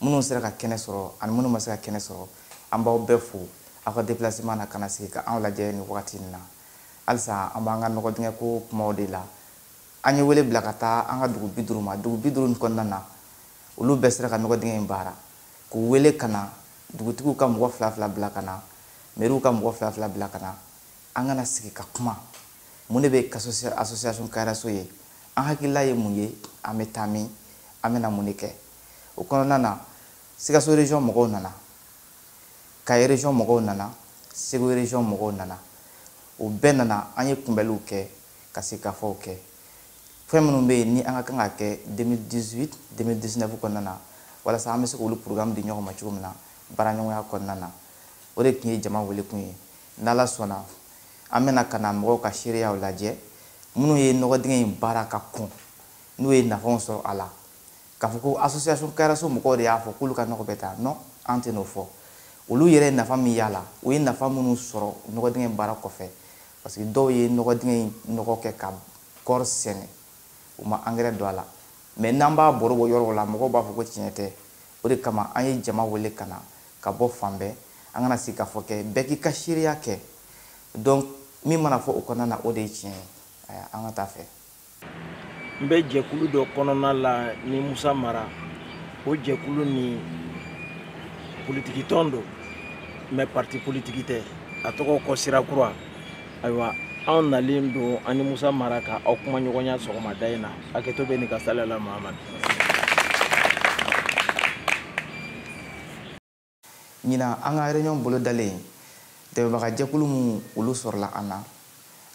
minnu sera ka kɛnɛ sɔrɔ ani minnu ma se ka kɛnɛ sɔrɔ an b'aw bɛɛ fo aw ka déplacement na ka na sigi ka anw lajɛ nin wagati in na halisa an b'an ka nɔgɔ dingɛ ko kumaw de la an ye wele bila ka taa an ka dugu bi duuru ma dugu bi duuru nin kɔnɔna na olu bɛɛ sera ka nɔgɔ dingɛ in baara k'u wele ka na dugutigiw ka mɔgɔ fila fila bila ka na mɛriw ka mɔgɔ fila fila bila ka na an ka na sigi ka kuma mun de bɛ association kayiraso ye an hakilila ye mun ye an bɛ taa min an bɛna mun de kɛ o kɔnɔna na sikaso region mɔgɔw nana kaye region mɔgɔw nana segu region mɔgɔw nana o bɛɛ nana an ye kunbɛliw kɛ ka sigikafɔw kɛ fɛn minnu bɛ yen ni an ka kan ka kɛ 2018 2019 kɔnɔna na walasa an bɛ se k'olu programme di ɲɔgɔn ma cogo min na baaraɲɔgɔnya kɔnɔna na o de tun ye jama welekun ye n'ala sɔnna an bɛna ka na mɔgɔw ka seereyaw lajɛ minnu ye nɔgɔ dingɛ in baara ka kɔn n'u ye nafaw sɔrɔ a la k'a fɔ ko association kayiraso mɔgɔw de y'a fɔ k'olu ka nɔgɔ bɛ taa non an tɛn'o fɔ olu yɛrɛ ye nafa min y'a la u ye nafa minnu sɔrɔ nɔgɔ dingɛ in baara kɔfɛ parce que dɔw ye nɔgɔ dingɛ in nɔgɔ kɛ ka kɔɔri sɛnɛ u ma angɛrɛ don a la mɛ n'an b'a baro bɔ yɔrɔw la mɔgɔw b'a fɔ ko tiɲɛ tɛ o de kama an ye jama wele ka na ka bɔ fan bɛɛ an ka na sigikafɔ kɛ bɛɛ k'i ka seereya kɛ donc min mana fɔ o kɔnɔna na o de ye tiɲɛ ye aya an ka taa fɛ n bɛ jɛkulu dɔ kɔnɔna la ni musa mara o jɛkulu nin politikitɔn don mɛ parti politiki tɛ a tɔgɔ ko sira kura ayiwa anw nalen don an ni musa mara ka aw kumaɲɔgɔnya sɔgɔmada in na hakɛto bɛ nin ka sala la mahamadu ɲinan an ka réunion bolodalen dɛmɛbaga jɛkulu minnu olu sɔrɔla an na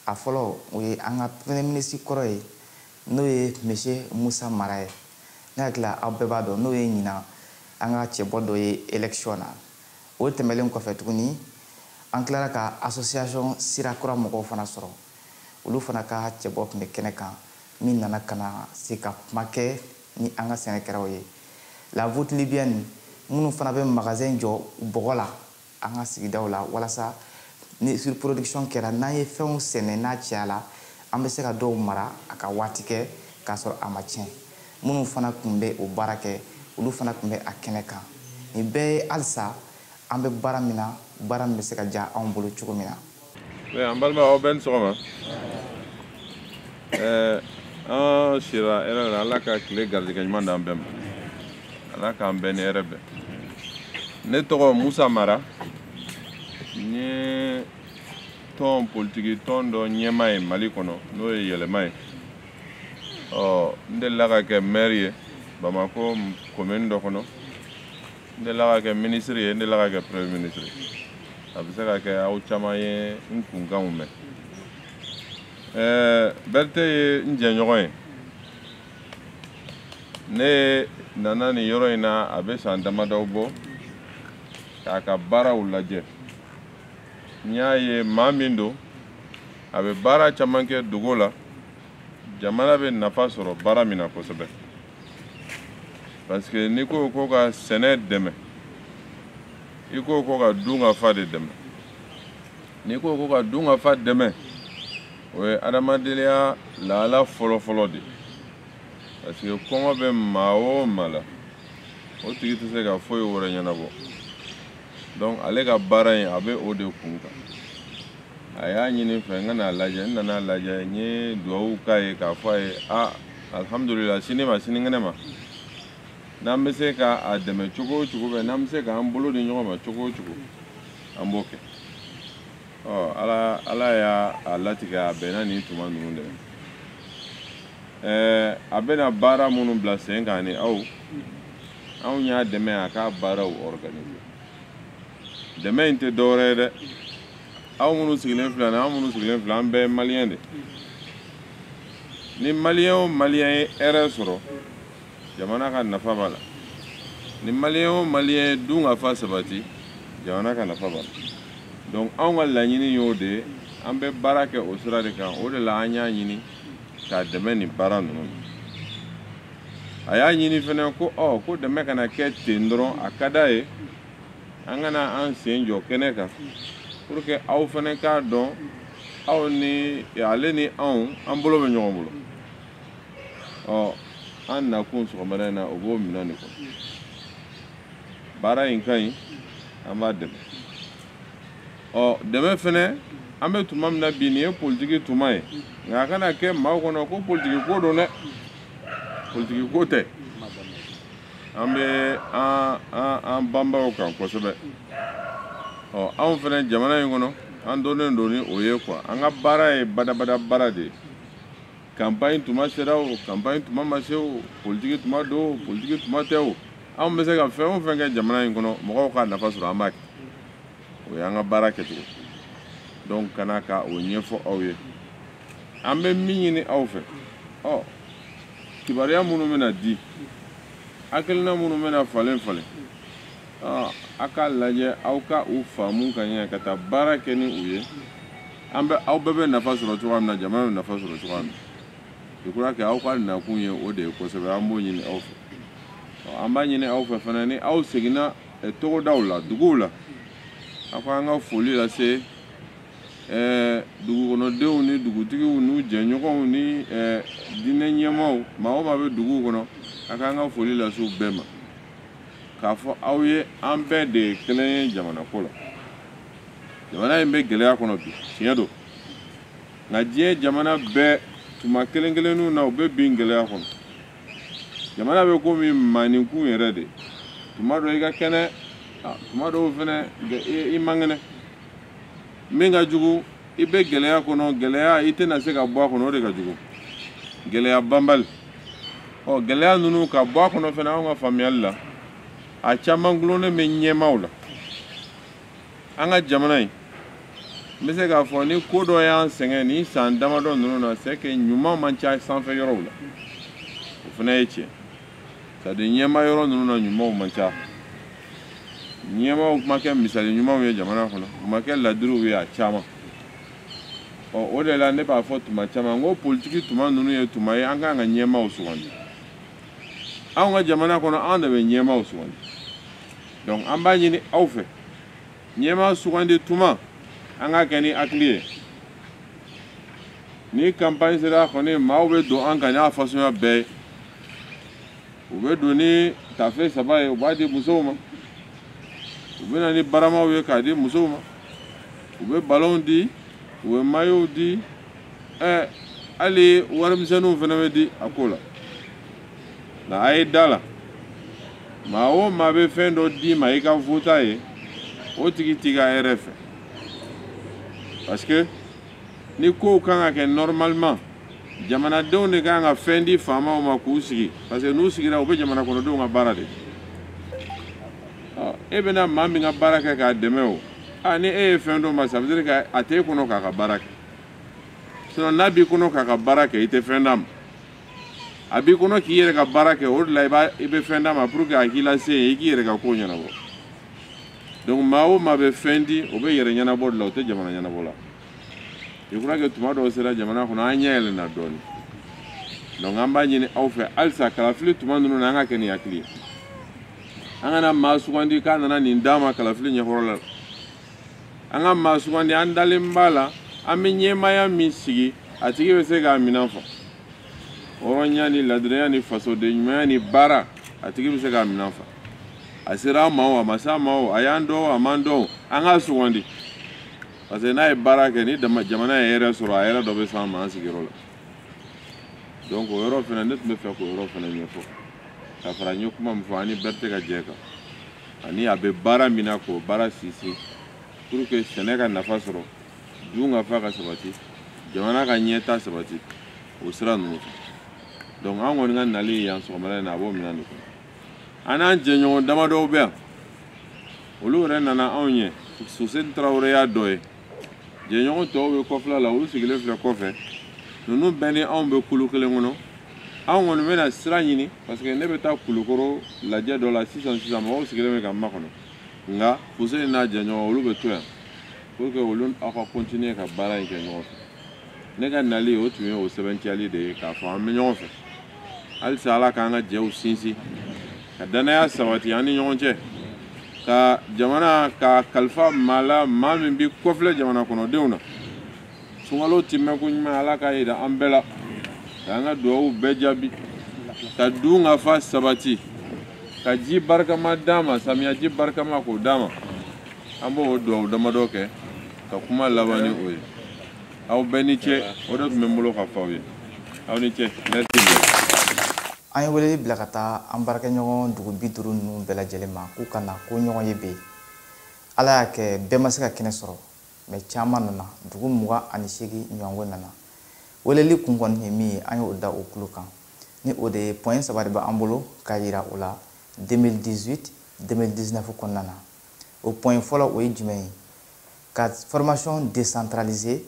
a fɔlɔ o ye an ka premier ministre kɔrɔ ye n'o ye monsieur musa mara ye ne hakili la aw bɛɛ b'a dɔn n'o ye ɲinan an ka cɛbɔ dɔ ye élection na o tɛmɛlen kɔfɛ tuguni an tilara ka association sira kura mɔgɔw fana sɔrɔ olu fana ka cɛbɔ tun bɛ kɛnɛ kan min nana ka na se ka kuma kɛ ni an ka sɛnɛkɛlaw ye la voûte nubienne minnu fana bɛ magasin jɔ bɔgɔ la an ka sigidaw la walasa ni surproduction kɛra n'an ye fɛnw sɛnɛ n'a cayala an bɛ se ka dɔw mara a ka waati kɛ k'a sɔrɔ a ma tiɲɛ minnu fana tun bɛ o baara kɛ olu fana tun bɛ a kɛnɛ kan nin bɛɛ ye halisa an bɛ baara min na baara min bɛ se ka diya anw bolo cogo min na. Eh, an balima aw bɛɛ ni sɔgɔma eh, an sira hɛrɛ la ala ka tile garijɛgɛ ɲuman d'an bɛɛ ma ala k'an bɛɛ ni hɛrɛ bɛn ne tɔgɔ musa mara n ye tɔn politiki tɔn dɔ ɲɛmaa ye mali kɔnɔ n'o ye yɛlɛma ye ɔ n delila ka kɛ maire ye bamako commune dɔ kɔnɔ n delila ka kɛ ministre ye n delila ka kɛ premier ministre a bɛ se ka kɛ aw caman ye n kunkanw mɛn ɛɛ berete ye n jɛɲɔgɔn ye ne nana nin yɔrɔ in na a bɛ san damadɔw bɔ k'a ka baaraw lajɛ n y'a ye maa min don a bɛ baara caman kɛ dogo la jamana bɛ nafa sɔrɔ baara min na kosɛbɛ parce que n'i ko ko ka sɛnɛ dɛmɛ i ko ko ka dunkafa de dɛmɛ n'i ko ko ka dunkafa dɛmɛ o ye adamadenya lahala fɔlɔfɔlɔ de parce que kɔngɔ bɛ maa o maa la o tigi tɛ se ka foyi wɛrɛ ɲɛnabɔ donc ale ka baara in a bɛ o de kun kan a y'a ɲini n fɛ n ka n'a lajɛ n nana a lajɛ n ye duwawu k'a ye k'a fɔ a ye a alihamudulila sini ma sinikɛnɛ ma n'an bɛ se ka a dɛmɛ cogo o cogo bɛɛ n'an bɛ se k'an bolo di ɲɔgɔn ma cogo o cogo an b'o kɛ ɔ ala ala y'a a latigɛ a bɛnna nin tuma ninnu de ma ɛɛ a bɛna baara minnu bila sen kan ni aw anw y'a dɛmɛ a k'a baaraw organiser dɛmɛ in tɛ dɔwɛrɛ ye dɛ aw minnu sigilen filɛ ni aw minnu sigilen filɛ an bɛɛ ye maliyɛn de ni maliyɛn o maliyɛn ye hɛrɛ sɔrɔ jamana ka nafa b'a la ni maliyɛn o maliyɛn ye dunkafa sabati jamana ka nafa b'a la donc anw ka laɲini y'o de ye an bɛ baara kɛ o sira de kan o de la an y'a ɲini k'a dɛmɛ nin baara ninnu a y'a ɲini fɛnɛ ko ɔ ko dɛmɛ kana kɛ ten dɔrɔn a ka d'a ye an ka na an sen jɔ kɛnɛ kan pour que aw fɛnɛ k'a dɔn aw ni ale ni anw an bolo bɛ ɲɔgɔn bolo ɔ an nakun sɔgɔmada in na o b'o minɛn de kɔnɔ baara in ka ɲi an b'a dɛmɛ ɔ dɛmɛ fɛnɛ an bɛ tuma min na bi nin ye politiki tuma ye nka a kana kɛ maaw kɔnɔ ko politiki ko don dɛ politiki ko tɛ an bɛ an banban o kan kosɛbɛ ɔ anw fɛnɛ jamana in kɔnɔ an dɔnnen don ni o ye quoi an ka baara ye badabada baara de ye kanpaɲi tuma sera o kanpaɲi tuma ma se o politiki tuma don o politiki tuma tɛ o anw bɛ se ka fɛn o fɛn kɛ jamana in kɔnɔ mɔgɔw ka nafa sɔrɔ an b'a kɛ o y'an ka baara kɛcogo donc ka na ka o ɲɛfɔ aw ye an bɛ min ɲini aw fɛ ɔ kibaruya minnu bɛna di hakilina minnu bɛna falen falen ɔ a k'a lajɛ aw ka u faamu ka ɲɛ ka taa baara kɛ ni u ye an bɛ aw bɛɛ bɛ nafa sɔrɔ cogoya min na jamana bɛ nafa sɔrɔ cogoya min na je crois que aw ka nakun ye o de ye kosɛbɛ an b'o ɲini aw fɛ ɔ an b'a ɲini aw fɛ fana ni aw seginna eh, togodaw la duguw la a k'an ka foli lase eh, dugukɔnɔdenw ni dugutigiw n'u jɛɲɔgɔnw ni eh, diinɛ ɲɛmaaw maa o maa bɛ duguw kɔnɔ a k'an ka foli lase u bɛɛ ma k'a fɔ aw ye an bɛɛ de ye kelen ye jamanako la jamana in bɛ gɛlɛya kɔnɔ bi tiɲɛ don nka diɲɛ jamana bɛɛ tuma kelen kelenninw na u bɛ bin gɛlɛya kɔnɔ jamana bɛ komi maa nikun yɛrɛ de tuma dɔ i ka kɛnɛ tuma dɔw fɛnɛ i man kɛnɛ min ka jugu i bɛ gɛlɛya kɔnɔ gɛlɛya i tɛna se ka bɔ a kɔnɔ o de ka jugu gɛlɛya banbali ɔ gɛlɛya ninnu ka bɔ a kɔnɔ fɛnɛ anw ka faamuyali la a caman gulonnen bɛ ɲɛmaaw la an ka jamana in n bɛ se k'a fɔ ni ko dɔ y'an sɛgɛn nin san damadɔ ninnu na c'est que ɲuman man ca sanfɛ yɔrɔw la o fana ye tiɲɛ c'est à dire ɲɛmaa yɔrɔ ninnu na ɲumanw man ca ɲɛmaaw ma kɛ misali ɲumanw ye jamana kɔnɔ u ma kɛ ladiriw ye a caman ɔ o de la ne b'a fɔ tuma caman n ko politiki tuma ninnu ye tuma ye an kan ka ɲɛmaaw sugandi anw ka jamana kɔnɔ anw de bɛ ɲɛmaaw sugandi donc an b'a ɲini aw fɛ ɲɛmaa sugandi tuma an k'a kɛ ni hakili ye ni kanpaɲi sera kɔni maaw bɛ don an kan n'a fasuguya bɛɛ ye u bɛ don ni tafe saba ye u b'a di musow ma u bɛ na ni baramaw ye k'a di musow ma u bɛ balonw di u bɛ mayow di ɛɛ hali warimisɛnninw fana bɛ di a ko la nka a ye da a la maa o maa bɛ fɛn dɔ d'i ma i ka vote a ye o tigi t'i ka hɛrɛ fɛ parce que ni kow kan ka kɛ normalement jamanadenw de kan ka fɛn di faamaw ma k'u sigi parce que n'u sigira u bɛ jamanakɔnɔdenw ka baara de e bɛna maa min ka baara kɛ k'a dɛmɛ o ni e ye fɛn d'o ma ça veut dire que a t'e kɔnɔ k'a ka baara kɛ sinon n'a b'i kɔnɔ k'a ka baara kɛ i tɛ fɛn d'a ma a b'i kɔnɔ k'i yɛrɛ ka baara kɛ o de la i b'a i bɛ fɛn d'a ma pour que a k'i lase yen i k'i yɛrɛ ka ko ɲɛnabɔ donc maa o maa bɛ fɛn di o b'a yɛrɛ ɲɛnabɔ de la o tɛ jamana ɲɛnabɔ la i kura kɛ tuma dɔw sera jamana kɔnɔ an ɲɛ yɛlɛnna dɔɔnin donc an b'a ɲini aw fɛ halisa kalafili tuma ninnu na an ka kɛ ni hakili ye an kana maa sugandi k'a nana nin d'a ma kalafili ɲɛkɔrɔ la an ka maa sugandi an dalen b'a la an bɛ ɲɛmaaya min sigi a tigi bɛ se k'a minɛn fa hɔrɔnya ni ladiriya ni fasoden ɲumanya ni baara a tigi bɛ se k'a minɛn fa a sera an ma o a ma se an ma o a y'an dɔn o a m'an dɔn o an k'a sugandi parce que n'a ye baara kɛ ni jama jamana ye hɛrɛ sɔrɔ a hɛrɛ dɔ bɛ s'an ma an sigiyɔrɔ la donc o yɔrɔ fana ne tun bɛ fɛ k'o yɔrɔ fana ɲɛfɔ ka fara n ye kuma min fɔ an ni bɛɛ tɛ ka jɛ kan ani a bɛ baara min na k'o baara sinsin pour que sɛnɛ ka nafa sɔrɔ dunkafa ka sabati jamana ka ɲɛtaa sabati o sira ninnu fɛ donc an kɔni ka nali yan sɔgɔmada in na a b'o minɛn de kɔnɔ an n'an jɛɲɔgɔn damadɔw bɛ yan olu yɛrɛ nana anw ɲɛ fuseni tarawele y'a dɔ ye jɛɲɔgɔn tɔw bɛ kɔfɛla la olu sigilen filɛ kɔfɛ ninnu bɛɛ ni anw bɛ kulu kelen kɔnɔ anw kɔni bɛna sira ɲini parce que ne bɛ taa kulukoro lajɛ dɔ la sisan sisan maaw sigilen bɛ ka n makɔnɔ nka fuseni n'a jɛɲɔgɔn olu bɛ to yan pour que olu aw ka continuer ka baara in kɛ ɲɔgɔn fɛ ne ka nali o tun ye o sɛbɛntiyali de ye k'a fɔ an bɛ ɲɔgɔn fɛ halisa ala k'an ka jɛw sinsin ka dannaya sabati an ni ɲɔgɔn cɛ ka jamana ka kalifa maa la maa min bɛ kɔfilɛ jamana kɔnɔdenw na sunkalo tɛmɛko ɲuman ala k'a yira an bɛɛ la k'an ka dugawu bɛɛ jaabi ka dunkafa sabati ka ji barikama d'an ma samiyaji barikama k'o d'an ma an b'o dugawu damadɔ kɛ ka kuma laban ni o ye aw bɛɛ ni ce o de tun bɛ n bolo ka fɔ aw ye aw ni ce merci an ye weleli bila ka taa an baarakɛɲɔgɔn dugu bi duuru ninnu bɛɛ lajɛlen ma k'u ka na ka ɲɔgɔn ye bɛ ala y'a kɛ bɛɛ ma se ka kɛnɛ sɔrɔ mais caman nana dugu mugan ani seegin ɲɔgɔnko nana weleli kun kɔni ye min ye an y'o da u tulo kan ni o de ye pɔɲɛ saba de b'an bolo k'a yira u la 2018 2019 kɔnɔna na o pɔɲɛ fɔlɔ o ye jumɛn ye ka formation décentralisée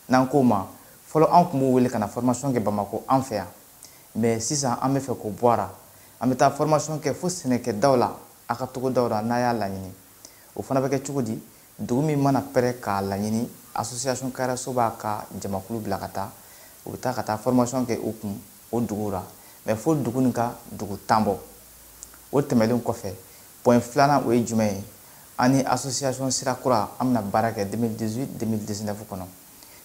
n'an k'o ma fɔlɔ an tun b'u wele ka na formation kɛ Bamako an fɛ yan mais sisan an bɛ fɛ k'o bɔ a la an bɛ taa formation kɛ fo sɛnɛkɛdaw la a ka togodaw la n'a y'a laɲini o fana bɛ kɛ cogo di dugu min mana pɛrɛ k'a laɲini association kayaraso b'a ka jamakulu bila ka taa u bɛ taa ka taa formation kɛ u kun o duguw la mais fo dugu nin ka dugu tan bɔ o tɛmɛlen kɔfɛ Point filanan o ye jumɛn ye an ni asosiyasɔn sira kura an bɛna baara kɛ 2018 2019 kɔnɔ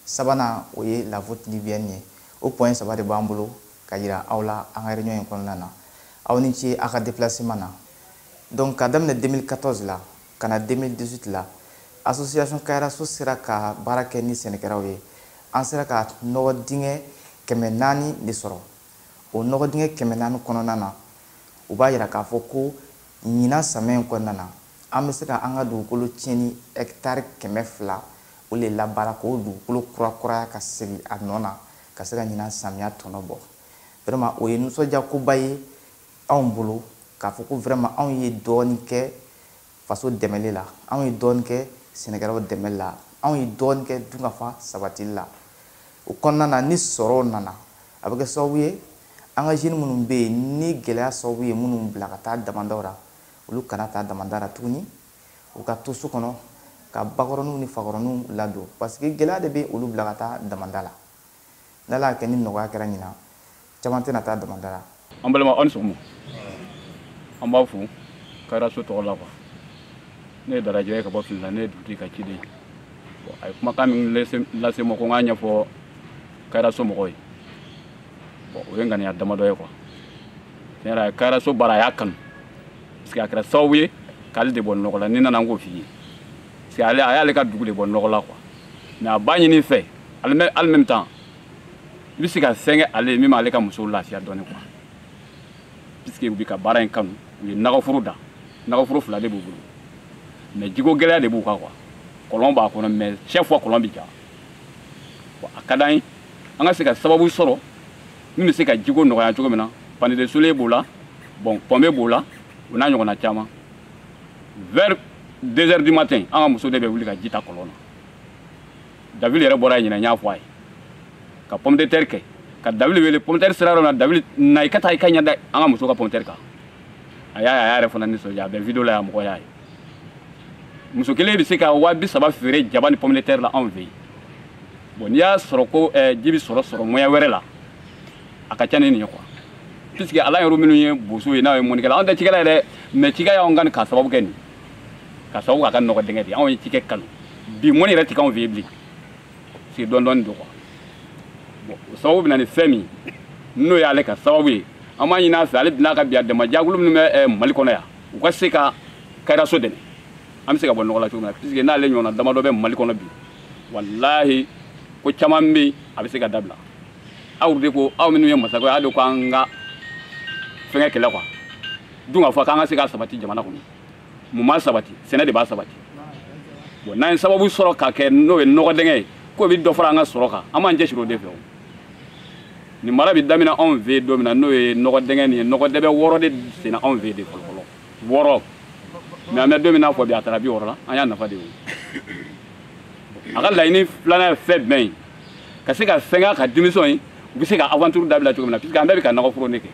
sabanan o ye la vote libyɛni ye o point saba de b'an bolo ka jira aw la an ka réunion in kɔnɔna na aw ni ce aw ka déplacement na donc ka daminɛ 2014 la ka na 2018 la asosiyasɔn kayiraso sera ka baara kɛ ni sɛnɛkɛlaw ye an sera ka nɔgɔ dingɛ kɛmɛ naani de sɔrɔ O nɔgɔ dingɛ kɛmɛ naani kɔnɔna na, o b'a jira k'a fɔ ko ɲinan samiya in kɔnɔna na, an bɛ se ka an ka dugukolo tiɲɛni hɛkitari kɛmɛ fila o le labaara k'o dugukolo kurakuraya ka segin a nɔ na ka se ka ɲinan samiya tɔnɔ bɔ. Vraiment o ye nisɔndiyakoba ye anw bolo k'a fɔ ko vraiment anw ye dɔɔnin kɛ faso dɛmɛli la anw ye dɔɔni kɛ sɛnɛkɛlaw dɛmɛli la anw ye dɔɔni kɛ dunkafa sabatili la o kɔnɔna na ni sɔrɔ nana a bɛ kɛ sababu ye an ka jeunes minnu bɛ yen ni gɛlɛya sababu ye minnu bila ka taa damandaw la olu kana taa damanda la tuguni u ka to so kɔnɔ ka bakɔrɔninw ni fakɔrɔninw ladon parce que gɛlɛya de bɛ olu bila ka taa damanda la n'ala y'a kɛ ni nɔgɔya kɛra ɲinan caman tɛna taa damanda la an balima aw ni sɔgɔma an b'a fo kayira so tɔgɔ la quoi ne ye darajɛ ye ka bɔ fili la ne ye dugutigi ka ciden ye a ye kumakan min lase n ma ko n k'a ɲɛfɔ kayira so mɔgɔw ye bon o ye ŋaniya damadɔ ye quoi tiɲɛ yɛrɛ kayira so baara a y'a kanu parce que a kɛra sababu ye k'ale de bɔ nɔgɔ la ni nana n k'o f'i ye parce que ale a y'ale ka dugu de bɔ nɔgɔ la quoi mais a b'a ɲini i fɛ ali même temps i bɛ se ka fɛn kɛ ale ye min b'ale ka musow lafiya dɔɔni quoi puisque u bɛ ka baara in kanu u ye nagaforo da nagaforo fila de b'u bolo mais jiko gɛlɛya de b'u kan quoi kɔlɔn b'a kɔnɔ mais chaque fois kɔlɔn bɛ ja a ka d'an ye an ka se ka sababu sɔrɔ min bɛ se ka jiko nɔgɔya cogo min na panneau de soleil b'o la bon pompe b'o la o n'a ɲɔgɔnna caman vers 2 heures du matin an ka muso de bɛ wuli ka ji ta kɔlɔn na David yɛrɛ bɔra yen ne y'a fɔ a ye ka pomme de terre kɛ ka David wele pomme de terre sira yɔrɔ na David na i ka taa i ka ɲɛ da an ka muso ka pomme de terre kan a y'a a y'a yɛrɛ fana nisɔndiya a bɛ video la yan mɔgɔ y'a ye muso kelen bɛ se ka waa bi saba feere jaba ni pomme de terre la anw fɛ yen bon n'i y'a sɔrɔ ko eh, ji bɛ sɔrɔ sɔrɔ moyen wɛrɛ la a ka ca ni nin ye quoi puisque anw yɛrɛ minnu ye boso ye anw ye mɔnikɛla anw tɛ cikɛla ye dɛ mais cikɛ y'anw ka nin k'a sababu kɛ nin ka sababu k'a ka nɔgɔ dingɛ de anw ye cikɛ kanu bi mɔni yɛrɛ tɛ k'anw fɛ yen bilen sigi dɔɔni dɔɔni don quoi bon o sababu bɛ na ni fɛn min n'o y'ale ka sababu ye an b'a ɲini a fɛ ale bɛna ka bi a dɛmɛ jɛkulu minnu bɛ eh, mali kɔnɔ yan u ka se ka kayiraso dɛmɛ an bɛ se ka bɔ nɔgɔ la cogo min na puisque n'ale ɲɔgɔnna damadɔ bɛ mali kɔnɔ bi walahi ko caman bɛ yen a bɛ se ka dabila aw de ko aw minnu ye masakɛ y'a dɔn ko an ka fɛngɛ kɛlɛ kuwa dunkafa k'an ka se ka sabati jamana kɔnɔ mun b'a sabati sɛnɛ de b'a sabati bon n'an ye sababu sɔrɔ ka kɛ n'o ye nɔgɔ dingɛ ye k'o bɛ dɔ fara an ka sɔrɔ kan an b'an cɛsiri o de fɛ o nin baara bɛ daminɛ anw fɛ yen don min na n'o ye nɔgɔ dingɛ nin ye nɔgɔ dingɛ wɔɔrɔ de senna anw fɛ yen de fɔlɔ fɔlɔ wɔɔrɔ mɛ an bɛ don min na fɔ bi a taara bi wɔɔrɔ la an y'a nafa de ye o a ka laɲini filanan ye fɛn jumɛn ye ka se ka fɛngɛ a ka denmisɛnw ye u bɛ se ka aventure dabila cogo min na puisque an bɛɛ bɛ ka nakɔ foro nin kɛ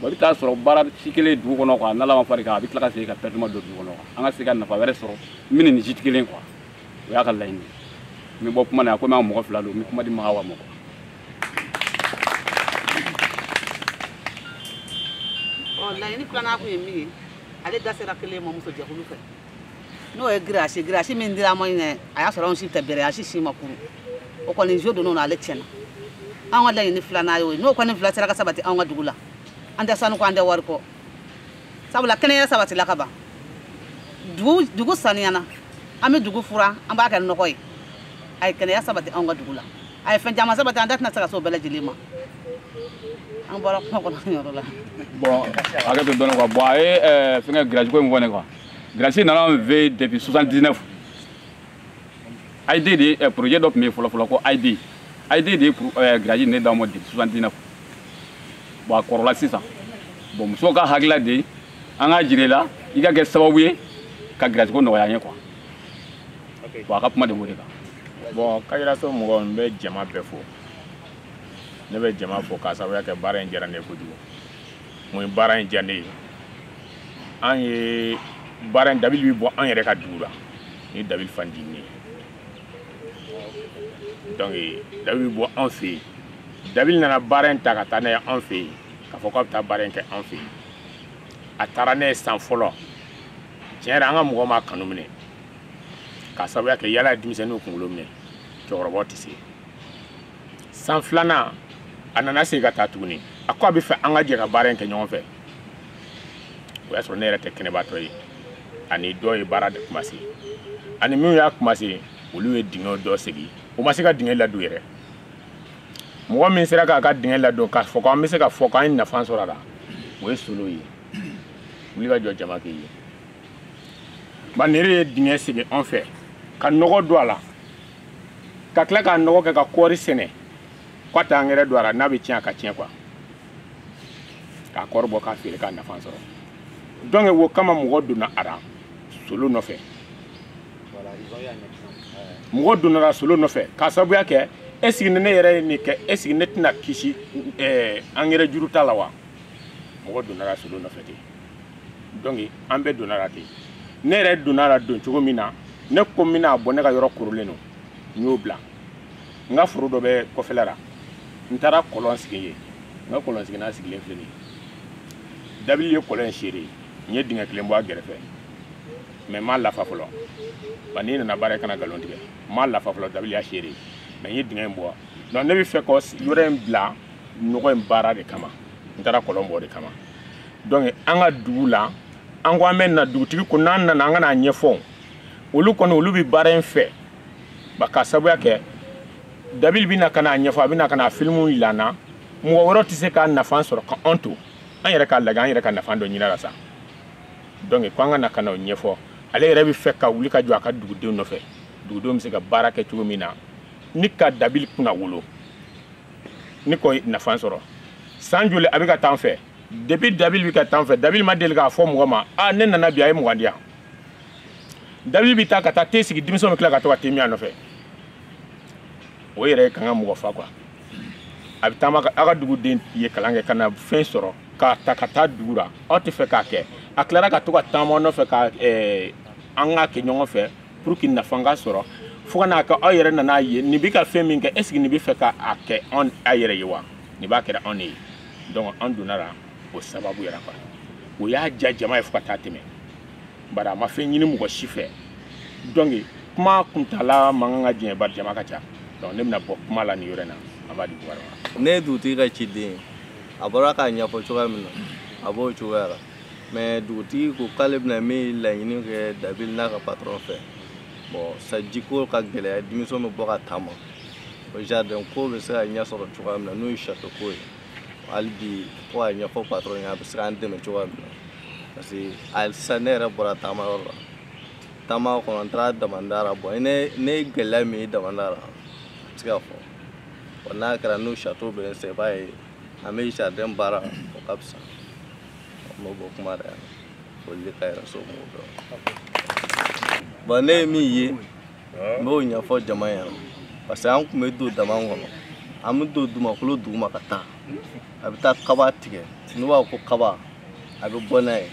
bon i bɛ taa sɔrɔ baara si kelen dugu kɔnɔ quoi n'ala ma fara i kan a bɛ tila ka segin ka perte ma don dugu kɔnɔ quoi an ka se ka nafa wɛrɛ sɔrɔ min ni nin si tɛ kelen quoi o y'a ka laɲini ye n bɛ bɔ kuma na komi an mɔgɔ fila don n bɛ kuma di maga wa mɔgɔ laɲini filanan kun ye min ye ale da sera kelen ma muso jɛkulu fɛ n'o ye girasi girasi min dira ma ɲinɛ a y'a sɔrɔ anw si tɛ bɛrɛ a si si ma kuru o kɔni jo donn'o na ale tiɲɛna anw ka laɲini filanan y'o ye n'o kɔni fila sera ka sabati anw ka dugu la an tɛ sanu kɔ an tɛ wari kɔ sabula kɛnɛya sabatila ka ban dugu dugu saniyana an bɛ dugu furan an b'a kɛ nɔgɔ ye a ye kɛnɛya sabati anw ka dugu la a ye fɛn caman sabati an da tɛna se ka se o bɛɛ lajɛlen ma an bɔra kuma kɔnɔ yɔrɔ la. bɔn hakɛto dɔɔni kuwa bɔn a ye fɛngɛ girajiko in fɔ ne kuwa grasi nana an fɛ yen depuis 79 aide de eh, projet dɔ tun bɛ yen fɔlɔfɔlɔ ko aide aide de ye eh, grasi nin d'an ma depuis 79 bon a kɔrɔla sisan bon muso ka hakilila de ye an k'a jira i la i ka kɛ sababu ye ka girasiko nɔgɔya an ye kuwa bon a ka kuma de b'o de kan bɔn kajiraso mɔgɔ n bɛ jama bɛɛ fo ne bɛ jama fo k'a sababuya kɛ baara in diyara ne ye kojugu mun ye baara in diya ne ye an ye baara in dabili bɛ bɔ an yɛrɛ ka dugu la ni dabili fan di ne ye donc dabili bɛ bɔ an fɛ yen dabili nana baara in ta ka taa n'a ye an fɛ yen k'a fɔ k'a bɛ taa baara in kɛ an fɛ yen a taara n'a ye san fɔlɔ tiɲɛ yɛrɛ an ka mɔgɔ m'a kanu minɛ k'a sababuya kɛ yaala ye denmisɛnninw kunkolo minɛ cɛkɔrɔbaw tɛ se san filanan a nana segin ka taa tuguni a ko a bɛ fɛ an ka jɛ ka baara in kɛ ɲɔgɔn fɛ o y'a sɔrɔ ne yɛrɛ tɛ kɛnɛbaatɔ ye ani dɔ ye baara de kumase ani minnu y'a kumase olu ye dingɛ dɔ segi o ma se ka dingɛ ladon yɛrɛ mɔgɔ min sera k'a ka dingɛ ladon k'a fɔ ko an bɛ se ka fɔ k'an ye nafa sɔrɔ a la o ye solo ye wuli ka jɔ jama k'i ye min yɛrɛ ye dingɛ segi an fɛ ka nɔgɔ don a la ka tila k'a nɔgɔ kɛ ka kɔɔri sɛnɛ k'a tɛ angɛrɛ don a la n'a bɛ tiɲɛ a ka tiɲɛ quoi k'a kɔɔri bɔ k'a feere k'a nafa sɔrɔ donc wo kama mɔgɔ donna a la solo nɔfɛ mɔgɔ donna solo nɔfɛ k'a sababuya kɛ est ce que ne yɛrɛ ye nin kɛ est ce que ne tɛna kisi angɛrɛ juru ta la wa mɔgɔ donna solo nɔfɛ ten donc an bɛɛ donna a la ten ne yɛrɛ donna a la don cogo min na ne ko n bɛna bɔ ne ka yɔrɔ kɔrɔlen don n y'o bila n ka foro dɔ bɛ kɔfɛla la n taara kɔlɔn sigi yen n ka kɔlɔn siginan sigilen filɛ nin ye dabili ye kɔlɔn in seere ye n ye dingɛ kelen bɔ a gɛrɛfɛ mais n m'a lafa fɔlɔ ba n'i nana baara ye kana nkalon tigɛ n m'a lafa fɔlɔ dabili y'a seere ye mais n ye dingɛ in bɔ donc ne bɛ fɛ ka yɔrɔ in bila nɔgɔ in baara de kama n taara kɔlɔn bɔ o de kama donc an ka dugu la an ko an bɛ na dugutigi ko n'an nana an ka n'a ɲɛfɔ olu kɔni olu bɛ baara in fɛ ba k'a sabuya kɛ dabili bɛ na ka n'a ɲɛfɔ a bɛ na ka n'a filimu yira an na mɔgɔ wɛrɛ tɛ se k'a nafa sɔrɔ ka an to an yɛrɛ k'a lajɛ an yɛrɛ ka nafa dɔ ɲin'a la sa donc ko an ka na ka n'o ɲɛfɔ ale yɛrɛ bɛ fɛ ka wuli ka jɔ a ka dugudenw nɔfɛ dugudenw bɛ se ka baara kɛ cogo min na ni ka dabili kunnawolo ni k'o nafa sɔrɔ san joli a bɛ ka taa an fɛ depuis dabili bɛ ka taa an fɛ dabili ma deli k'a fɔ mɔgɔ ma a ne nana bi a ye mugan di yan dabili bɛ taa ka taa te sigi denmisɛnw bɛ tila ka to ka te min a nɔfɛ o yɛrɛ ye kan ka mɔgɔ fa quoi a bɛ taama aw ka duguden ye kalan kɛ ka na fɛn sɔrɔ k'a ta ka taa dugu la aw tɛ fɛ k'a kɛ a tilara ka to ka taama nɔfɛ ko an k'a kɛ ɲɔgɔn fɛ pour que nafa ka sɔrɔ fo ka n'a kɛ aw yɛrɛ nan'a ye nin bɛ ka fɛn min kɛ est-ce que nin bɛ fɛ ka a kɛ anw a yɛrɛ ye wa nin b'a kɛra anw de ye donc an donna la o sababu yɛrɛ kan o y'a diya jama ye fo ka taa tɛmɛ bari a ma fɛn ɲini mɔgɔ si fɛ donc kuma kuntaala man kan ka janya bari jama ka ca donc ne bɛna bɔ kuma la nin yɔrɔ in na a b'a di buwari ma ne ye dugutigi ka ciden ye a bɔra k'a ɲɛfɔ cogoya min na a b'o cogoya la mais dugutigi ko k'ale bɛna min laɲini kɛ dabili n'a ka patɔrɔn fɛ bon sanjiko ka gɛlɛya denmisɛn bɛ bɔ ka taama o jardin ko bɛ se ka ɲɛ sɔrɔ cogoya min na n'o ye chateau ko ye hali bi fo k'a ɲɛfɔ patɔrɔn ye a bɛ se k'an dɛmɛ cogoya min na parce que hali sisan ne yɛrɛ bɔra taama yɔrɔ la taama kɔnɔ n taara damanda la bon ne ye gɛlɛya min ye damanda la a bɛ se ka fɔ n'a kɛra n'o chateau bɛ n sɛ i b'a ye an bɛ jardin baara o ka fisa an b'o bɔ kuma de yan foli de ka yɛrɛ so mɔgɔw dɔn bon ne ye min ye n b'o ɲɛfɔ jama ɲɛna parce que an tun bɛ don daman kɔnɔ an bɛ don dumakolo duguma ka taa a bɛ taa kaba tigɛ n'u b'a ko kaba a bɛ bɔ n'a ye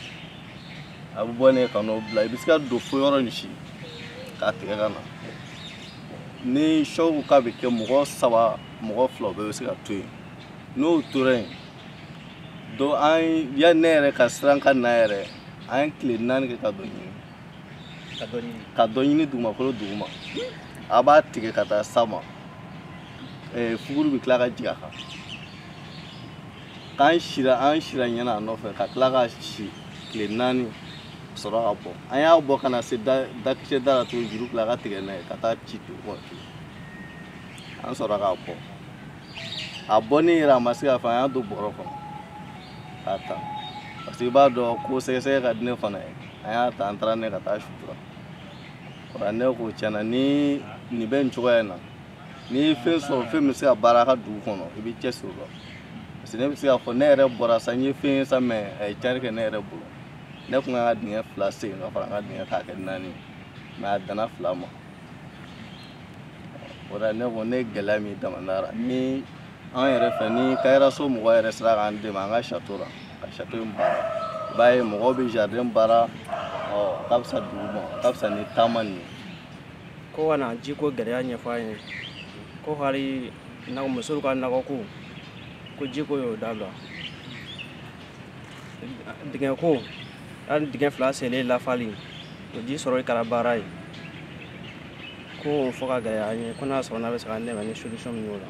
a bɛ bɔ n'a ye ka n'o bila i bɛ se ka don fo yɔrɔ nin si k'a tigɛ ka na ni sɔ ko k'a bɛ kɛ mɔgɔ saba mɔgɔ fila bɛɛ bɛ se ka to yen n'o tora yen donc an ya ne yɛrɛ ka siran ka na yɛrɛ an ye tile naani kɛ ka dɔ ɲini ka dɔ ɲini dugumakolo duguma a b'a tigɛ ka taa san ma eh, fuguru bɛ tila ka jigin a kan k'an sira an sira ɲɛna a nɔfɛ ka tila ka si tile naani sɔrɔ ka bɔ an y'a bɔ ka na se dakisɛ da la tuguni juru tila ka tigɛ n'a ye ka taa ci dugu kɔnɔ an sɔrɔ k'a bɔ a bɔni yɛrɛ a ma se ka fɔ an y'a don bɔrɔ kɔnɔ k'a ta parce que i b'a dɔn ko sɛgɛsɛgɛ ka di ne fana ye an y'a ta an taara n'a ye ka taa sutura o la ne ko tiɲɛna ni nin bɛ nin cogoya in na n'i ye fɛn sɔrɔ fɛn bɛ se ka baara ka dugu kɔnɔ i b'i cɛ siri o la parce que ne bɛ se k'a fɔ ne yɛrɛ bɔra sa n ye fɛn ye sa mais a ye cari kɛ ne yɛrɛ bolo ne kun kan ka dingɛ fila sen ka fara n ka dingɛ k'a kɛ naani mais a danna fila ma o la ne ko ne gɛlɛya min damanara ni an yɛrɛ fɛ ni kayiraso mɔgɔ yɛrɛ sera k'an dɛmɛ an ka château la ka château in baara i b'a ye mɔgɔw bɛ jardin baara o ka fisa dugu ma ka fisa ni daman nin ye ko ka na jiko gɛlɛya ɲɛfɔ an ye ko hali musolu ka nakɔko ko jiko y'o dabila dingɛko hali dingɛ fila selen lafali o ji sɔrɔli kɛra baara ye k'o fɔ ka gɛlɛya an ye ko n'a sɔrɔ n'a bɛ se ka dɛmɛ ni solution min y'o la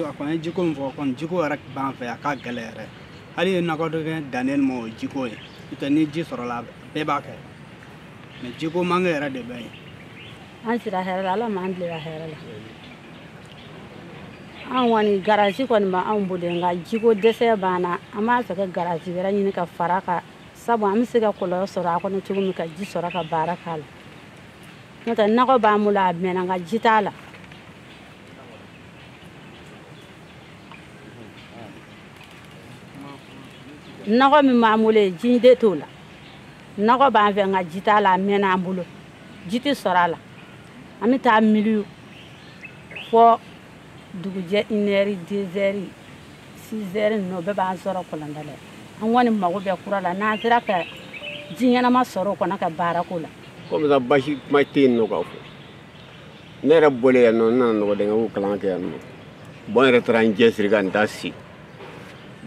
a kɔni ye jiko min fɔ kɔni jiko yɛrɛ b'an fɛ a ka gɛlɛ yɛrɛ hali ye nakɔ dɔ kɛ dannen ma o ye jiko ye n'o tɛ ni ji sɔrɔla bɛɛ b'a kɛ mais jiko manque yɛrɛ de bɛ yen an sira hɛrɛ la ala m'an bila hɛrɛ la anw kɔni grillage kɔni bɛ anw bolo nka jiko dɛsɛ b'an na an b'a fɛ ka grillage wɛrɛ ɲini ka fara kan sabu an bɛ se ka kɔlɔn dɔ sɔrɔ a kɔnɔ cogo min ka ji sɔrɔ ka baara k'a la n'o tɛ nakɔ b'an bolo a mɛnna nka ji t'a la nakɔ min b'an bolo yen ji de t'o la nakɔ b'an fɛ nka ji t'a la a mɛnna an bolo ji tɛ sɔrɔ a la an bɛ taa miliw fo dugujɛ inɛri dezɛri sizɛri ninnu bɛɛ b'an sɔrɔ kɔlɔnda la an kɔni mago bɛ kura la n'an sera ka ji ɲɛnama sɔrɔ o kɔnɔ ka baara k'o la comme ça basi kuma tɛ yen nɔ k'a fɔ ne yɛrɛ bɔlen yan nɔ n nana nɔgɔ dingɛ ko kalan kɛ yan nɔ bɔn n yɛrɛ taara n cɛsiri ka n ta sen